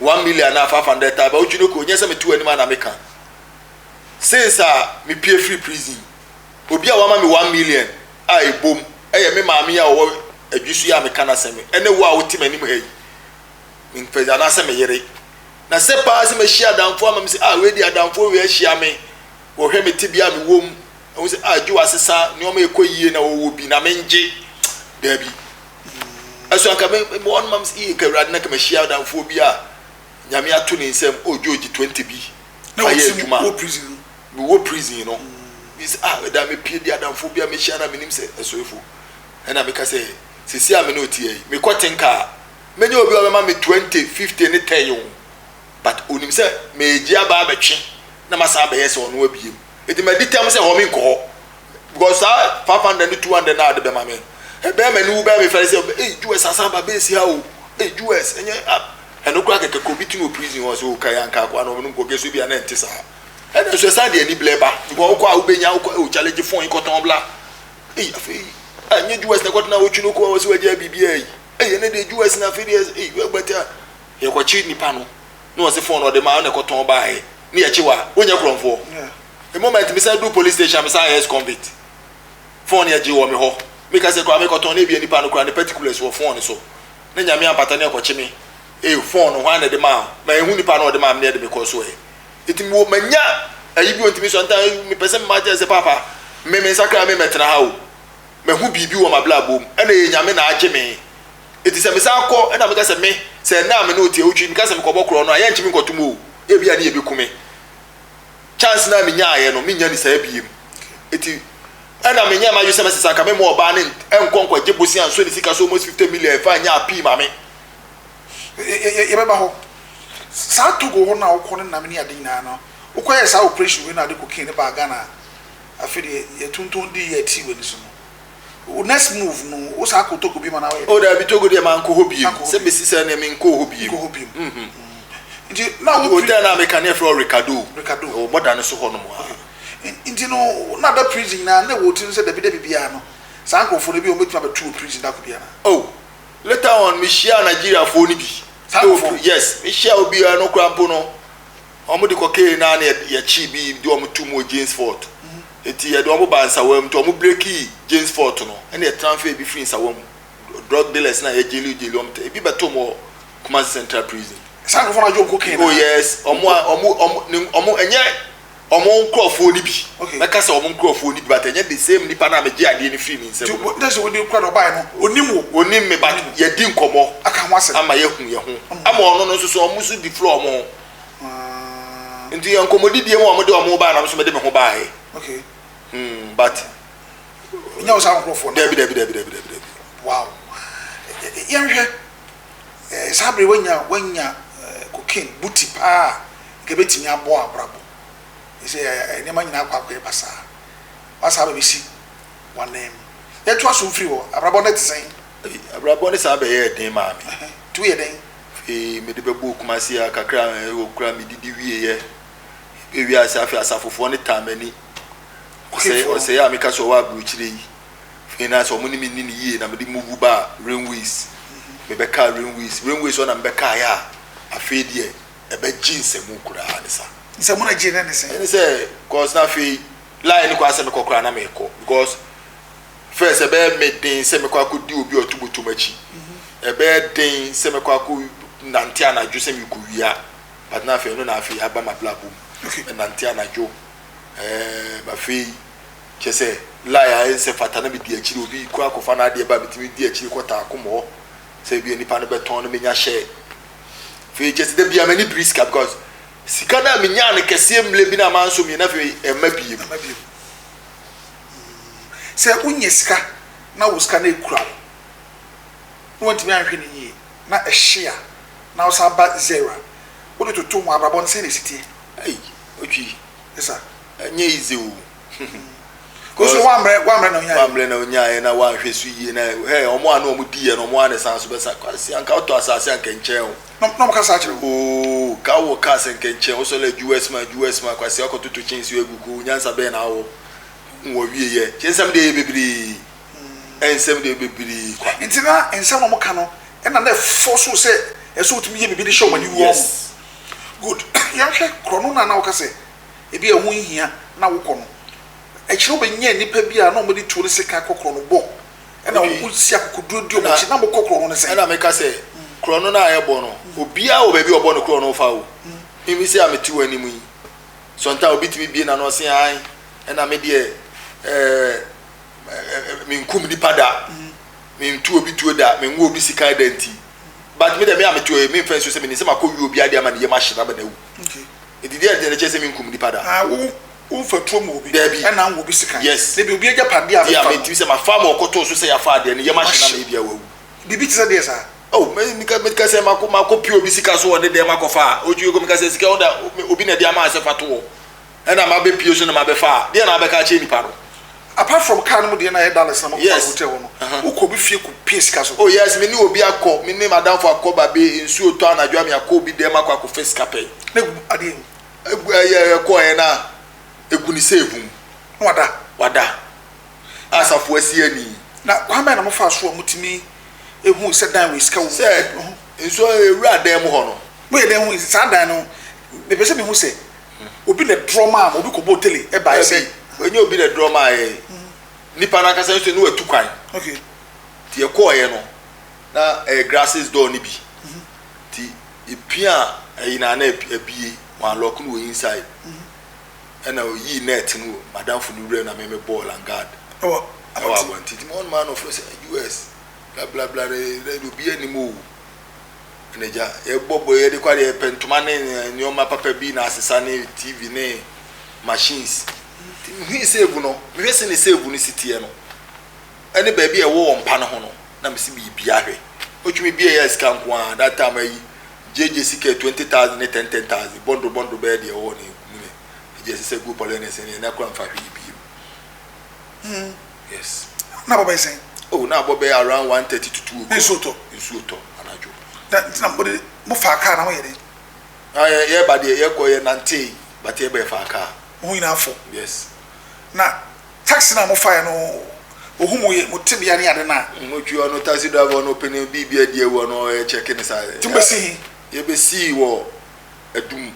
one million anaa five hundred thousand ba wotwi no kɔ nyɛ sɛ meto anim ana meka since a mepie firi prison obi a wama me one million a ɛbom ɛyɛ me maame a ɔwɔ adwisu yɛ a meka n'asɛm ɛne wo a wote m'anim ha yi mempɛ anaasɛ me yere na sɛ paa sɛ mahyia adamfoɔ ama me sɛ a wei de adamfoɔ wei ahyia me wɔhwɛ me tebea a mewɔ mu ɛho sɛ a gye wɔ asesa nneɛma ɛkɔ yie na wɔwɔ bi na mengye daabi ɛso anka me me wɔn mam yɛ nka awurade na kama hyia adamfoɔ bi a nyame ato ne nsam o george twenty bi ayɛ adwuma me wɔ prison no bi sɛ ah ɛda me pie di adamfoɔ bi a me hyia na me nim sɛ ɛsoefo ɛna me ka sɛ sisi a me ne otiɛ yi me kɔ tenka a me nye obi a ɔbɛma me twenty fifty ne ten o but onim sɛ me gye aba abɛtwe na ma san bɛyɛ sɛ ɔno abiem edi ma di tam sɛ hɔ me nkɔ hɔ because saa five hundred ne two hundred na ade bɛma me ɛbɛn m'ani wo bɛn me fɛre sɛ ei jewes asan ba bɛɛsi ha o ei jewes ɛnyɛ ɛno koraa kɛkɛ kɔ bi ti no wɔ prison hɔ sɛ o kae anka akoa no ɔnom kɔkɛ so bi a na ɛnte saa ɛna nso ɛsan de ani blɛ ba because wokɔ a wobɛnya wokɔ o challenge fon kɔtɔn bla ei afei ɛnyɛ jewes na ɛkɔtena wotwi no kɔ wɔ sɛ wagya biribiaa yi ei ɛne deɛ jewes na afei deɛ ei wagbata yɛkɔkye nipa no na wɔn se phone na ɔde maa wo na ɛkɔtɔn baae na yɛkye wo a wonyɛ korɔmfoɔ the moment me san du police station me san yɛ ex convict phone yɛ gye wɔ me hɔ me kasa koraa me kɔtɔn na ebi nipa no koraa ne particulars wɔ phone so na nyame ampata ne ɛkɔkye me eh phone no hwan na ɛde maa ma ehu nipa na ɔde maa me na ɛde me kɔ so ɛ eti me wɔ manya ayi bi ontumi so nta me pɛ sɛ mma kyɛ sɛ papa me me nsa koraa me mɛtena ha o mahu biribi wɔ m'abrabɔ mu ɛna yɛ nyame na agye me Enti sɛ mesan kɔ na meka sɛ me, sɛ ɛnnɛ a me ne wo te awotwe, meka sɛ mekɔbɔ korɔn no a, yɛrentumi nkɔto mu o. Ebia ne yɛbɛku me. Chance no a menyaeɛ no, mennya no saa biem. Enti ɛna menyɛɛ m'adwene sɛ mɛsɛ sɛ anka memma ɔbaa no nkɔ nkɔgye bosea nso ne sika so almost 50 million ɛfa nyɛ apii ma me. Yɛbɛba hɔ. Saa Togo hɔ no a wokɔ no nam ne ade nyinaa no, wokɔyɛɛ saa operation wei na wode cocaine no baa Ghana a, afei deɛ yɛtontɔn dii yɛ tee w'ani so no, Wo next move no wo saa kɔ Togo biom anaa woyɛ dɛn? Oh daabi Togo deɛ mankɔ hɔ biom, sɛ bɛsi sɛ neɛ menkɔɔ hɔ biom. Menkɔ hɔ biom. Mhm. Nti na wo Hotel no a meka no yɛfrɛ hɔ Ricardo, Ricardo. ɛwɔ bɔda no so hɔ nom aa. Okay. Nti no na da prison nyinaa na ɛwɔ wo tirim sɛ dabi dabi biara no saa nkorɔfoɔ no ebia wɔbɛtumi abɛto wɔ prison da koro biara? Oh later on mehyiaa Nigeriafoɔ no bi. Saa nkorɔfoɔ no? Yes, mehyiaa obi a ɛno koraa mpo no Wɔn de kɔ kee naa ne yɛ kye bi de wɔn to mu wɔ James fort eti yɛ de wɔn ba nsawa mu nti wɔn breki James fort no ɛna yɛ tranfer ebi firi nsawa mu drug dealers na yɛ jeli jeli wɔn tɛ ebi bɛ to wɔn wɔ Kumasi central prison. Saa nkorɔfoɔ no adwo nko kee naa. Oh yes wɔn a wɔn wɔn ne wɔn ɛnyɛ wɔn nkorɔfoɔ no bi okay mɛka sɛ wɔn nkorɔfoɔ no bi but ɛnyɛ the same nipa naa mɛ gye adeɛ no firi ne nsam no. Nti ntɛsi wɔn de kura na ɔbaa yɛ no onim wo. Onim me but yɛ di nkɔmɔ. Aka ho asɛm. Ama yɛ hu yɛ ho ama wɔn no nso so wɔn nso deflo wɔn ho. Ah. Nti yɛ nkɔmmɔdi bie mu a wɔde wɔn baa na nso mede me ho baae. Okay. Hmm, but. Nya wo saa nkurɔfoɔ no. Dabi, dabi, dabi, dabi, dabi, dabi. Wow. Yɛnhwɛ, eh, saa bere wanya, wanya eh, cocaine, buti paa, nka bɛtumi abɔ abrabɔ. Ɛsɛ eh, eh, nneɛma nyinaa akɔ akɔyɛ basaa. Wasaa bɛbɛsi wɔn nan mu. Yɛtoa so mfiri hɔ, abrabɔ no te sɛn? Abrabɔ no saa bɛyɛɛ den maa me. Nti woyɛ dɛn? Afei mede bɛbɔɔ Kumasi a kakra hɔ koraa medidi wieeɛ. Ɛbɛɛ wiase afei asafofoɔ no taa m'ani. Ɔsɛeɛ ɔsɛeɛ a meka sɛ ɔwɔ aburokyire yi, afei na sɛ wɔn ne me nni no yie na mede move baa Rainways. Mebɛkaa Rainways. Rainways hɔ na mebɛkaeɛ a afei deɛ ɛbɛgye nsɛmu koraa ne sa. Nsɛmu no a ɛgyee no ne sɛn? Ɛne sɛ, cos na afei line no koraa sɛ mekɔ koraa na mekɔ because. Mefɛɛ sɛ ɛbɛyɛ me den sɛ mɛkɔ akɔdi obi a ɔto bɔtɔm akyi. Ɛbɛyɛ den sɛ mɛkɔ akɔnante anadwo sɛ merekɔwia. But na afei ɛno na afei aba m'abrabɔ mu. Menante anadwo. Ɛɛm, afei, kyerɛ sɛ, lie a ɛnsɛ fata na medi akyire. Obi rekɔ akɔfa n'adeɛ ba a, metumi di akyire kɔtaa akom hɔ sɛ ebia nipa no bɛtɔn na mɛnya share. Afei, kyerɛ sɛ, da biara m'ani biri sika because sika no a menyaa no kɛseɛ mmerɛ bi no a mansɔ mmienu no, afei ɛmma bio. Sɛ wonnya sika na wo sika no akura wo na woantumi anhwɛ no yie na ɛhye a na wosan ba zero a, wode toto ho a, abrabɔ no sɛn na ɛsi teɛ? Ei, Otwi, Yes sir. ɛnyɛ easy o. Wo nso woammrɛ woammrɛ na wonyaeɛ. Woammrɛ na wonyaeɛ na woanhwɛ so yie na hɛ wɔn a na wɔdiiɛ no wɔn ara na ɛsan so bɛsa. Kwasi anka wotɔ asase a anka ɛnkyɛn o. Na na wɔka saa kyerɛ wo? Oo, ka wowɔ cars a anka ɛnkyɛn. Wosɔre a adwuwa asuma adwuwa asuma. Kwasi akɔtoto kyɛnsee agu ko. Nyansa bɛn na wowɔ? wɔ wie yɛ kyɛ nsɛm deɛ yɛ bebree nsɛm deɛ bebree kwa. nti na nsɛm na wɔn ka no ɛna na ɛfɔ so sɛ ɛsɛ otumi yɛ biribi de hyɛ wɔn ani wɔ yes good yɛn hwɛ korɔno na na wɔka sɛ ebi a ɛho nhia na wokɔ no akyire wɔn bɛ nya nipa bi a na wɔn de tuo ne sekan kɔ korɔno bɔ ɛna okay wɔn si akokoduro di wɔn akyi na wɔn kɔ korɔno ne sɛ ɛna meka sɛ mm. korɔno na ayɛ bɔ no mm. obiara wɔ baabi ɔbɔ no korɔno fa o mm. mimi sɛ a mete wɔn anim yi. Sɔntaa obi tumi bue n'ano ɔse ae ɛna me deɛ ɛɛ menkum nipa da mentu obi tuo da menwo obi sikan da nti but me deɛ me a metu me mfɛn so sɛ menim sɛ makɔ wie obi adeɛ ama ne yam ahye na bɛna awu nti deɛ ɛdeɛ kyɛ sɛ menkum nipa da ah, womfa tuo mu obi daabi ɛna nwo obi sikan yes ne deɛ obi agya padeɛ a mefa no sɛ mafa ma ɔkɔtoo so sɛ yɛafa adeɛ ne yam ahye na mebi a wawu biribi te sɛ deɛ saa Oh, meka sɛ mako mako pio bi sika so wɔ ne dɛm akɔfa a otu egu meka sɛ sika ɔda obi na ɛde ama sɛ fa to hɔ ɛna ma bɛ pio so na ma bɛ fa deɛ na abɛka akyɛ nipa no. apart from car no mu deɛ na yɛ dollars na mo kɔ hotel hɔ no wokɔ obi fie kɔ pie sika so. Oh yes me ne obi akɔ me ne madamfo akɔ babe nsuo tɔ anadwo a me akɔ obi dɛm akɔ akɔfa sika pɛɛ. Na egu adeɛ mu. Egu ɛyɛ ɛkɔ ɛyɛ na egu ne save mu. Na wada. Wada. asafo asia ni. Na kwan bɛn na mofaa so a mutumi hui sɛ dan wei sika wom? Sɛ nsuo rewura dan mu hɔ no. Moyɛ dɛn hui saa dan no? Mepɛ sɛ mihu sɛ obi na ɛdrɔ maa mo, obi kɔbɔɔ tele baeɛ sɛ. Dabi, ɛnyɛ obi na ɛdrɔ maa yɛn. Nnipa no ankasa nso na watu kwan. Okay. Nti yɛkɔeɛ no, na ɛyɛ glasses door no bi. Nti yɛpiaa ɛyi no a, na abue, wɔanlɔɔke no wɔ inside. Ɛna ɔyii nɛɛt no wɔ m'adamfo no wuram na me me bɔɔl and guard ɛwɔ abɔnten nti wɔn maa no ɔfrɛ sɛ US bla bla bla ne ne de obiara nim o ɛna agya yɛbɔ bɔ yɛde kɔ adeɛ yɛpɛ ntoma ne nneɛma papa bi na asesa ne TV ne machines nti mehui save no mehwɛ sɛ ne save no si teɛ no ɛne baabi a ɛwɔ wɔn mpa no ho no na mesi biribiara hwɛ otumi bia yɛ sika nko a that time ayi gyegye sika twenty thousand ne ten ten thousand bɔndoro bɔndoro bɛyɛ deɛ ɛwɔ hɔ no mu no ɛgye ɛsɛ sɛ gu pɔlɛnɛs no yɛn na kora mfa hwee biem mm yes na abɔ bɛyɛ sɛn oh na abɔ bɛyɛ around one thirty to two o'clock nsuo tɔ nsuo tɔ anadwo na nti na mo de mo fa kaa na mo yɛ dɛ na yɛ yɛ ba deɛ yɛ kɔ yɛ nante bate yɛ bɛ fa kaa mo nyinaa fo yes na. Taxi no a mo faeɛ no ohu mo ye, mo tebea ne ade no a. Mo twi ɔno taxi driver no pene biribi adi awu ɔno ɔyɛ check ne saa. Nti mo bɛsi he? Yɛ bɛsii wɔ Adum,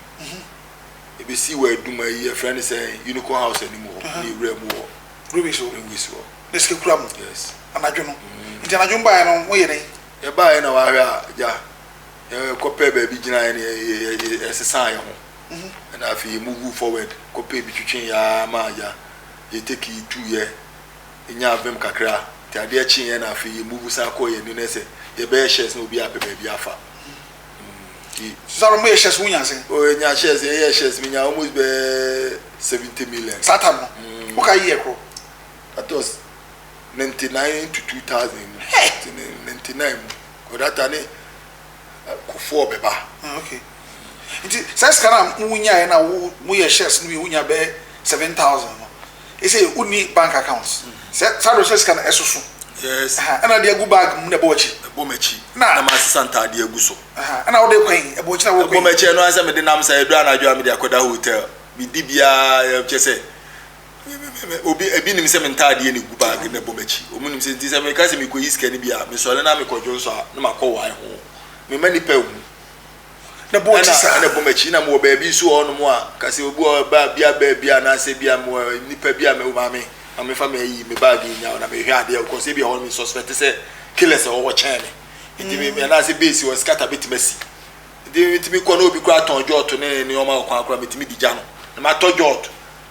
yɛ bɛsii wɔ Adum ayi yɛfrɛ no sɛn Unico house anim hɔ ne wura mu wɔ Greenwich hɔ. Greenwich hɔ. Ne sika kura mo? Yes. Anadwo no? Mm. Nti anadwo mo baeɛ no mo yɛ dɛn? Yɛ baeɛ na wahwɛ a gya yɛ kɔ pɛ baabi gyinaeɛ ne yɛ yɛ yɛ yɛ yɛsesaa yɛ ho. ho. Ɛna afei yɛ muvuu fɔwɛd kɔpɛɛ bi twetwee yɛ aa ma ya yɛ tɛki yi tuu yɛ nyaa vɛm kakra nti adeɛ kyee yɛ na afei yɛ muvu san kɔɔ yɛ nine sɛ yɛ bɛyɛ shɛs na obi apɛ baabi afa nti. Saa no mo yɛ shɛs mo nyaa sɛn? Oh yɛ nyaa shɛs yɛ yɛɛ shɛs me nyaa almost bɛɛ seventy million. Saa tam no mo ka year korɔ? That was ninety nine to two thousand mu ninety nine mu kɔ that time ne. kufoɔ bɛba. Mm ok nti saa sika no a wo nyaeɛ no a wo mo yɛ shares no bi wo nya bɛyɛ seven thousand no ɛsei wo nni bank account sɛ saa deɛ ɔsɛ sika no ɛsoso yes aha ɛna de agu bag mu na ɛbɔ akyi ɛbɔ m'akyi na na masesa ntaadeɛ agu so aha ɛna wode kwan yi ɛbɔ akyi na wokɔ ɛbɔ m'akyi ɛno ara sɛ mede nam saa ɛduru anadwo a mede akɔda hotel medi biara kyɛ sɛ Obi, ebi nim sɛ me ntaadeɛ na egu bag na ɛbɔ m'akyi. Wɔn nim sɛ nti sɛ meka sɛ mekɔyi sika no bi a, mesɔre na mekɔ dwonsɔ a na makɔ wae ho. Me mma nnipa ehu. Na ɛbɔ w'akyi saa. Ɛna ɛbɔ m'akyi. Na mewɔ baabi nso wɔ hɔ nom a, ka sɛ obi wɔ hɔ ba bi aba bi anaasɛ bi a mewɔ nnipa bi a me maame, maame fa me ayi me bag yi nya o na mehwɛ adeɛ because ebi wɔ hɔ nom me suspect sɛ killers wɔ hɔ kyɛn me. Nti me me anaasɛ base wɔ scatter betumi asi. Nti metumi kɔ na obi koraa tɔn jot ne nneɛma wɔ kwan koraa metumi di gya no na matɔ jot.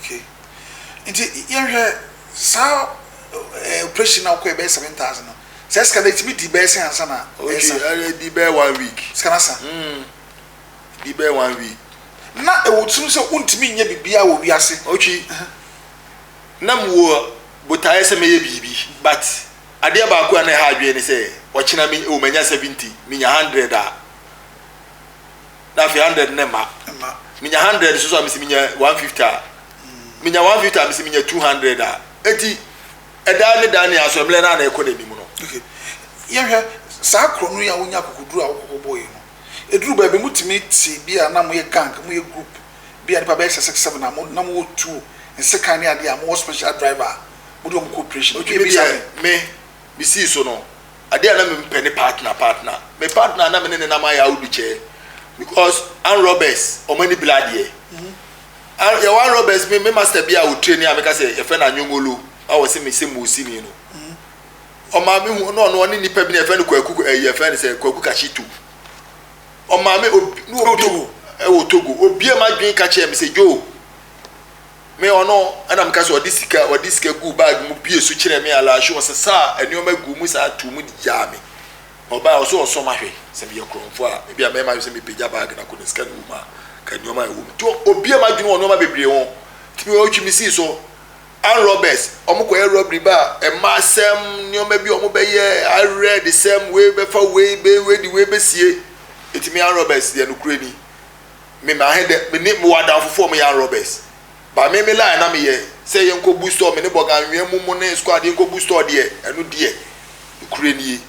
Okay nti yɛnhwɛ saa operation na ɔkɔ yɛ bɛyɛ seven thousand no sɛ sika na etimi di bɛyɛ sɛ ansa na ɛsa. Okay ɛdi bɛyɛ one week. Sika na sa. Mm di bɛyɛ one week. Na ewu tirim sɛ wuntumi nyɛ biribiara wɔ wiase. Okay na mu wɔ botaeɛ sɛ mɛyɛ biribi but adeɛ baako a na ɛha adwene ne sɛ ɔkyena mi ewu manya seventy minya hundred a. na afei hundred no mma menya hundred nso so a mesi menya one fifty a menya one fifty a mesi menya two hundred a eti ɛdan ne dan ne asɔ mmerɛ na ɛkɔ n'anim no. yɛhwɛ saa korɔ no yi a wonya akokoduru a wokɔkɔ bɔ yi no eduru baabi mo tumi te bi a na mo yɛ gang mo yɛ group bi a nipa bɛyɛ sɛ six seven a mo na mo wɔ tuo nsekan ne adeɛ a mo wɔ special driver a mo de wɔn kɔ operation. Otwi mi bi sɛ me. me sii so no, adeɛ a na me mpɛ ne partner partner. Me partner na me ne ne nam ayɛ awudu kyɛɛ because an robbers wɔn ani bla adeɛ. An yɛwɔ an robbers me me master bi a ɔtire ni a meka sɛ yɛfrɛ no anyongolo a wɔse me sɛ muusini no. Ɔmaa me hu no ɔno ɔne nipa bi na yɛfrɛ no kwaku ɛyi yɛfrɛ no sɛ kwaku kakyitu. Ɔmaa me obi ne obi ɛwɔ Togo obie ma dwen ka kyɛɛ me sɛ Joe. Me ɔno na meka sɛ ɔde sika ɔde sika guu bag mu bue so kyerɛɛ me alaahye ɔsesaa nneɛma guu mu saa too mu de gyaa me ɔbaa ɔsɛ ɔsɔ mahwɛ sɛ meyɛ korɔmfo a ebi a mɛma sɛ mepagya bag na kɔ na sika no wɔ mu a ka nneɛma a ɛwɔ mu to obia madwene wɔ nneɛma bebree ho tumi ɔtwi me sii so and robbers wɔn kɔyɛ robbery ba ɛma asɛm nneɛma bi wɔn bɛyɛ awerɛ de sɛm wei bɛfa wei bɛ wei de wei bɛsie ɛtumi and robbers deɛ no kure ni me ma he dɛ me ne mowɔ adamfo foɔ ɔmo yɛ arɔbɛs ba me me line na me yɛ sɛ yɛn kɔ bu stɔɔ me ne bɔga anwia mu mo ne skuad yɛn kɔ bu stɔɔ deɛ ɛno deɛ nokorɛ nie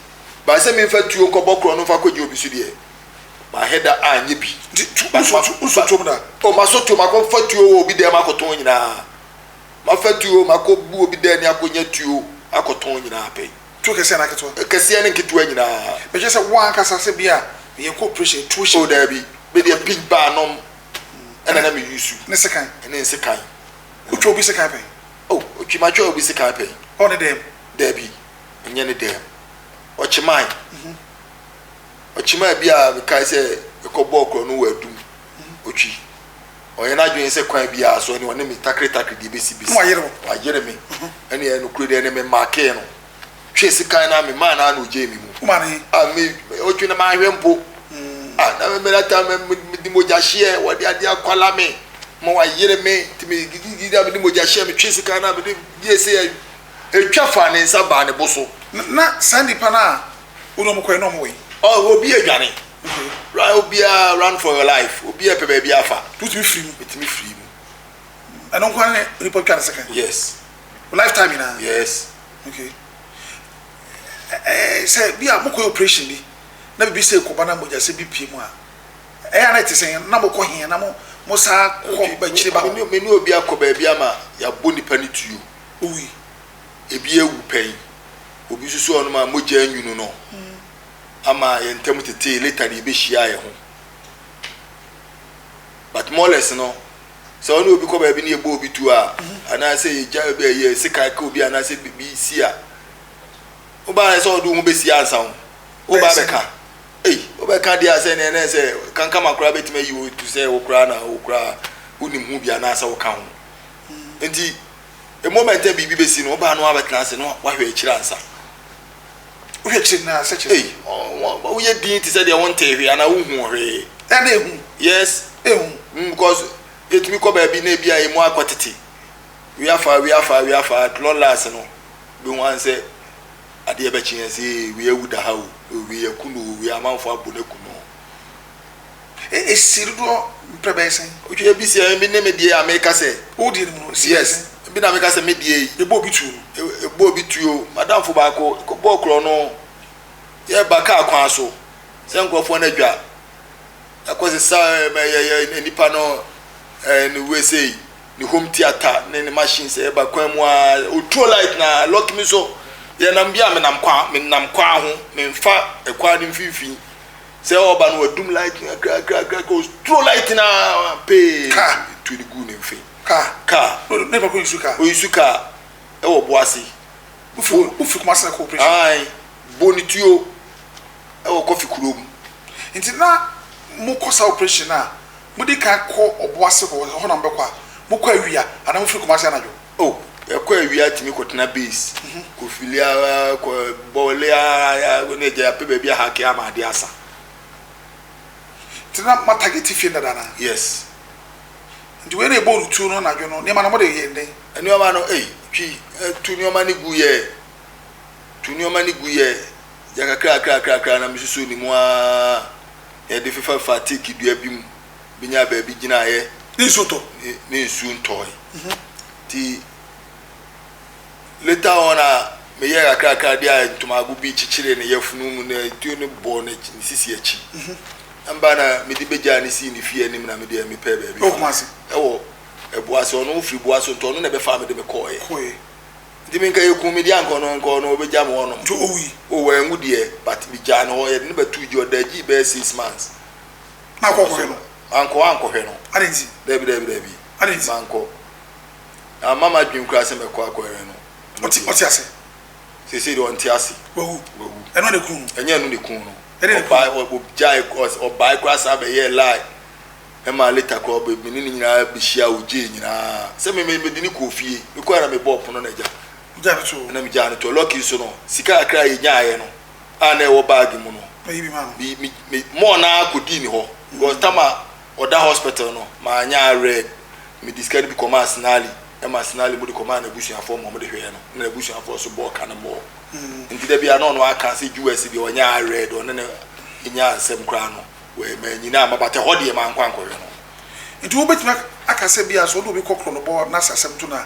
ba sɛ me nfa tuo nkɔ bɔ korɔ no nfa kɔ gye obi so deɛ ma he da a nyɛ bi nti tu ba ma ba tom da o ma so tom akɔ nfa tuo wɔ obi dɛm akɔ tɔn nyinaa ma fa tuo ma kɔ bu obi dɛm akɔ nya tuo akɔ tɔn nyinaa pɛi. Tuo kɛseɛ anaa ketewa? Kɛseɛ ne nketewa nyinaa. Bɛhwɛ sɛ wo ankasa sɛ bi a meyɛ kɔ operation tuo hyɛ. Oh daabi, me deɛ big bar nom ɛna na me use. Ne sekan. Ne nsekan. Wo twa obi sekan pɛn? Oh ɔkyima twa obi sekan pɛn. Ɔ ne dɛm? Daabi, ɛnyɛ ne dɛm. Ɔkyimae. Ɔkyimae bi a mekae sɛ mekɔ bɔɔ korɔ no wɔ adum. otwi. Ɔyɛ n'adwene sɛ kwan biara so ɛne ɔne me takeretakere deɛ ɛbɛsi bɛsi. Wayere wo. Wayere me. Ɛne ɛyɛ nokorɛ deɛ ɛne me makee no. Twe sekan na me maa no a na ɔgyee me mu. Womaa no he? A me ɔtwe na manhwɛ mpo. A na me mena ta me me di mogya hyeɛ wɔde adeɛ akwala me ma wayere me nti me gigigigi na me di mogya hyeɛ me twe sekan na me de yie sɛ yɛ ɛtwa faa ne nsa baa ne bo so. Na saa nnipa no a wo ne wɔn kɔɛ na wɔn wɔ he? Ɔ obi adwane. Run obiara run for your life obiara pɛ baabi afa. Wotumi firi mu. Wotumi firi mu. Ɛno nko ara nipa twa ne sika. Yes. Lifetime nyinaa. Yes. Okay. Ɛɛ sɛ bi a mokɔ operation bi na bibi sɛ kɔba na mogya sɛ bi pie mu a ɛyɛ na ɛte sɛ na mokɔ he na mo mo saa kɔ bakyire ba. Me ne obi akɔ baabi ama yɛabɔ nipa ne tuo. Owi. Ebi awu pɛn. Obi nso so ɔnom a mogya nwunu no. ama yɛn ntam tetee later de yɛbɛhyiaa yɛn ho but moles no sɛ ɔne obi kɔ baabi ne yɛbɔ obi tu a anaasɛ yɛgya yɛ sekan ka obi anaasɛ biribi si a wobaa sɛ ɔde wo ho bɛsi ansa ho wobaa bɛka ei wobɛka deɛ a sɛ neɛ nɛ sɛ kankama koraa bɛtumi ayi wo tu sɛ wo koraa na wo koraa wonim ho bi anaasɛ woka ho nti moment a biribi bɛsi no wobaa no abɛtena ase no wahwɛ akyiri ansa Wohwɛ akyire no ara sɛ kyerɛ. Ei, woyɛ dinn te sɛ deɛ wontee hwee anaa wonhuu hwee. Ɛna ehu. Yes. Ehu. Mm, because yɛtumi kɔ baabi na ebi a yɛn mu akɔ tete. We are far, we are far, we are far, at long last no, bɛhu ara sɛ adeɛ bɛkye yɛn sɛ ee, we awu da ha o, we aku no o, we amanfoɔ abɔ no aku no o. Esi dodoɔ mprɛ bɛyɛ sɛn? Wotwa ebi sɛ ebi ne me deɛ a meka sɛ. Wo deɛ no mu no si bɛyɛ sɛn? Yes, ebi na meka sɛ me deɛ yi, mebɔɔ bi tuo no. Mebɔɔ bi tuo madamfo baako, yɛkɔbɔɔ korɔ no, yɛreba kaa kwan so sɛ nkorɔfoɔ no adwa, yɛakɔsesa nipa no ne wei sei, ne home theatre ne ne machines, yɛreba kwan mu ara ɔtuo light no ara, lucky me nso yɛnam bi a menam kwan, menam kwan ho, memfa kwan no mfimfini. Sɛ ɔreba no wadum light no kakrakrakra, ɔturo light no ara pee, nsuo no guu ne mfe. Kaa. Kaa. Ne papa ɔyisu kaa. Ɔyisu kaa ɛwɔ Boase. Wofiri Kumasi na kɔ operation. Ae, Bonituo ɛwɔ Kɔfi kuro mu. Nti na mokɔ saa operation no a, modi kan kɔ Ɔboase hɔ, ɛhɔ na mobɛkɔ a, mokɔ awia anaa mofiri Kumasi anadwo? Oh yɛkɔ awia tumi kɔtena base kɔfili ara kɔ bɔɔle ara ne agya yɛapɛ baabi ahake ama ade asa nti na matagete fie dada na yes nti wei na ɛbɔ rutuo no anadwo no nneɛma no mode yɛ den nneɛma no ei twi tu nneɛma no gu yɛ tu nneɛma no gu yɛ gya kakra kakra kakra na mesusu ne mu ara yɛde fefa fa teeki dua bi mu bɛnyaa baabi gyinaeɛ ne nsuo tɔ ne nsuo ntɔe nti later on a meyɛ kakrakra de a ntomago bi kyekyere ne yafunu mu na tuo no bɔ ne sisi akyi ɛmba na mede bɛgyaa ne sii ne fie anim na mede mepɛ baabi ɛwɔ ɛboa sɛ ɔno firi boa so nti ɔno na ɛbɛfa mede me kɔɔɛ nti me nka yɛku me de ankɔ no nkɔ no ɔbɛgya me ɔnom ɔwɔ anwu deɛ but megyaa no hɔ yɛde ne bɛto gyi ɔda gyi bɛyɛ six months na akɔ akɔhwɛ no. Mankɔ ankɔhwɛ no. Adɛn nti? Daabi, daabi, daabi. Adɛn nti? Mankɔ. Amma m'adwene koraa sɛ mɛkɔ akɔhwɛ no. Ɔte, ɔte ase. Seesei deɛ ɔnte ase. Wawu. Wawu. Ɛno na ekun no. Ɛnyɛ ɛno na ekun no. Ɛdeɛ na ekun no. Ɔbae, ɔgyae, ɔs- ɔbae koraa saa bɛyɛɛ lie. Ɛma later koraa ɔbɛ- me ne ne nyinaa bɛhyia, ogyee nyinaa. Sɛ me, me, mede no kɔɔ fie. Mekɔe na mebɔɔ pono no agya. Wogyaa no too. Ɛna megyaa no too. Lucky nso no, sika kakra a yɛnyaeɛ no, a na ɛwɔ baage mu no me me me mɔɔ no ara kɔdii ne hɔ because tam a ɔda hospital no manyɛ awerɛ mede sika no bi kɔmaa sinali ɛma sinali mu de kɔmaa n'abusuafoɔ ma wɔde hwɛɛ no na n'abusuafoɔ nso bɔɔ ka no bɔɔ hmm. nti da bi a na ɔno aka sɛ us deɛ ɔnyɛ awerɛ deɛ ɔne no ɛnya nsɛm koraa no manyina ama batɛ hɔ deɛ mankɔ ankɔhwɛ no nti wobɛtumi aka sɛ bi a sɛ wode obi kɔkorɔ no bɔ no asasɛm to no a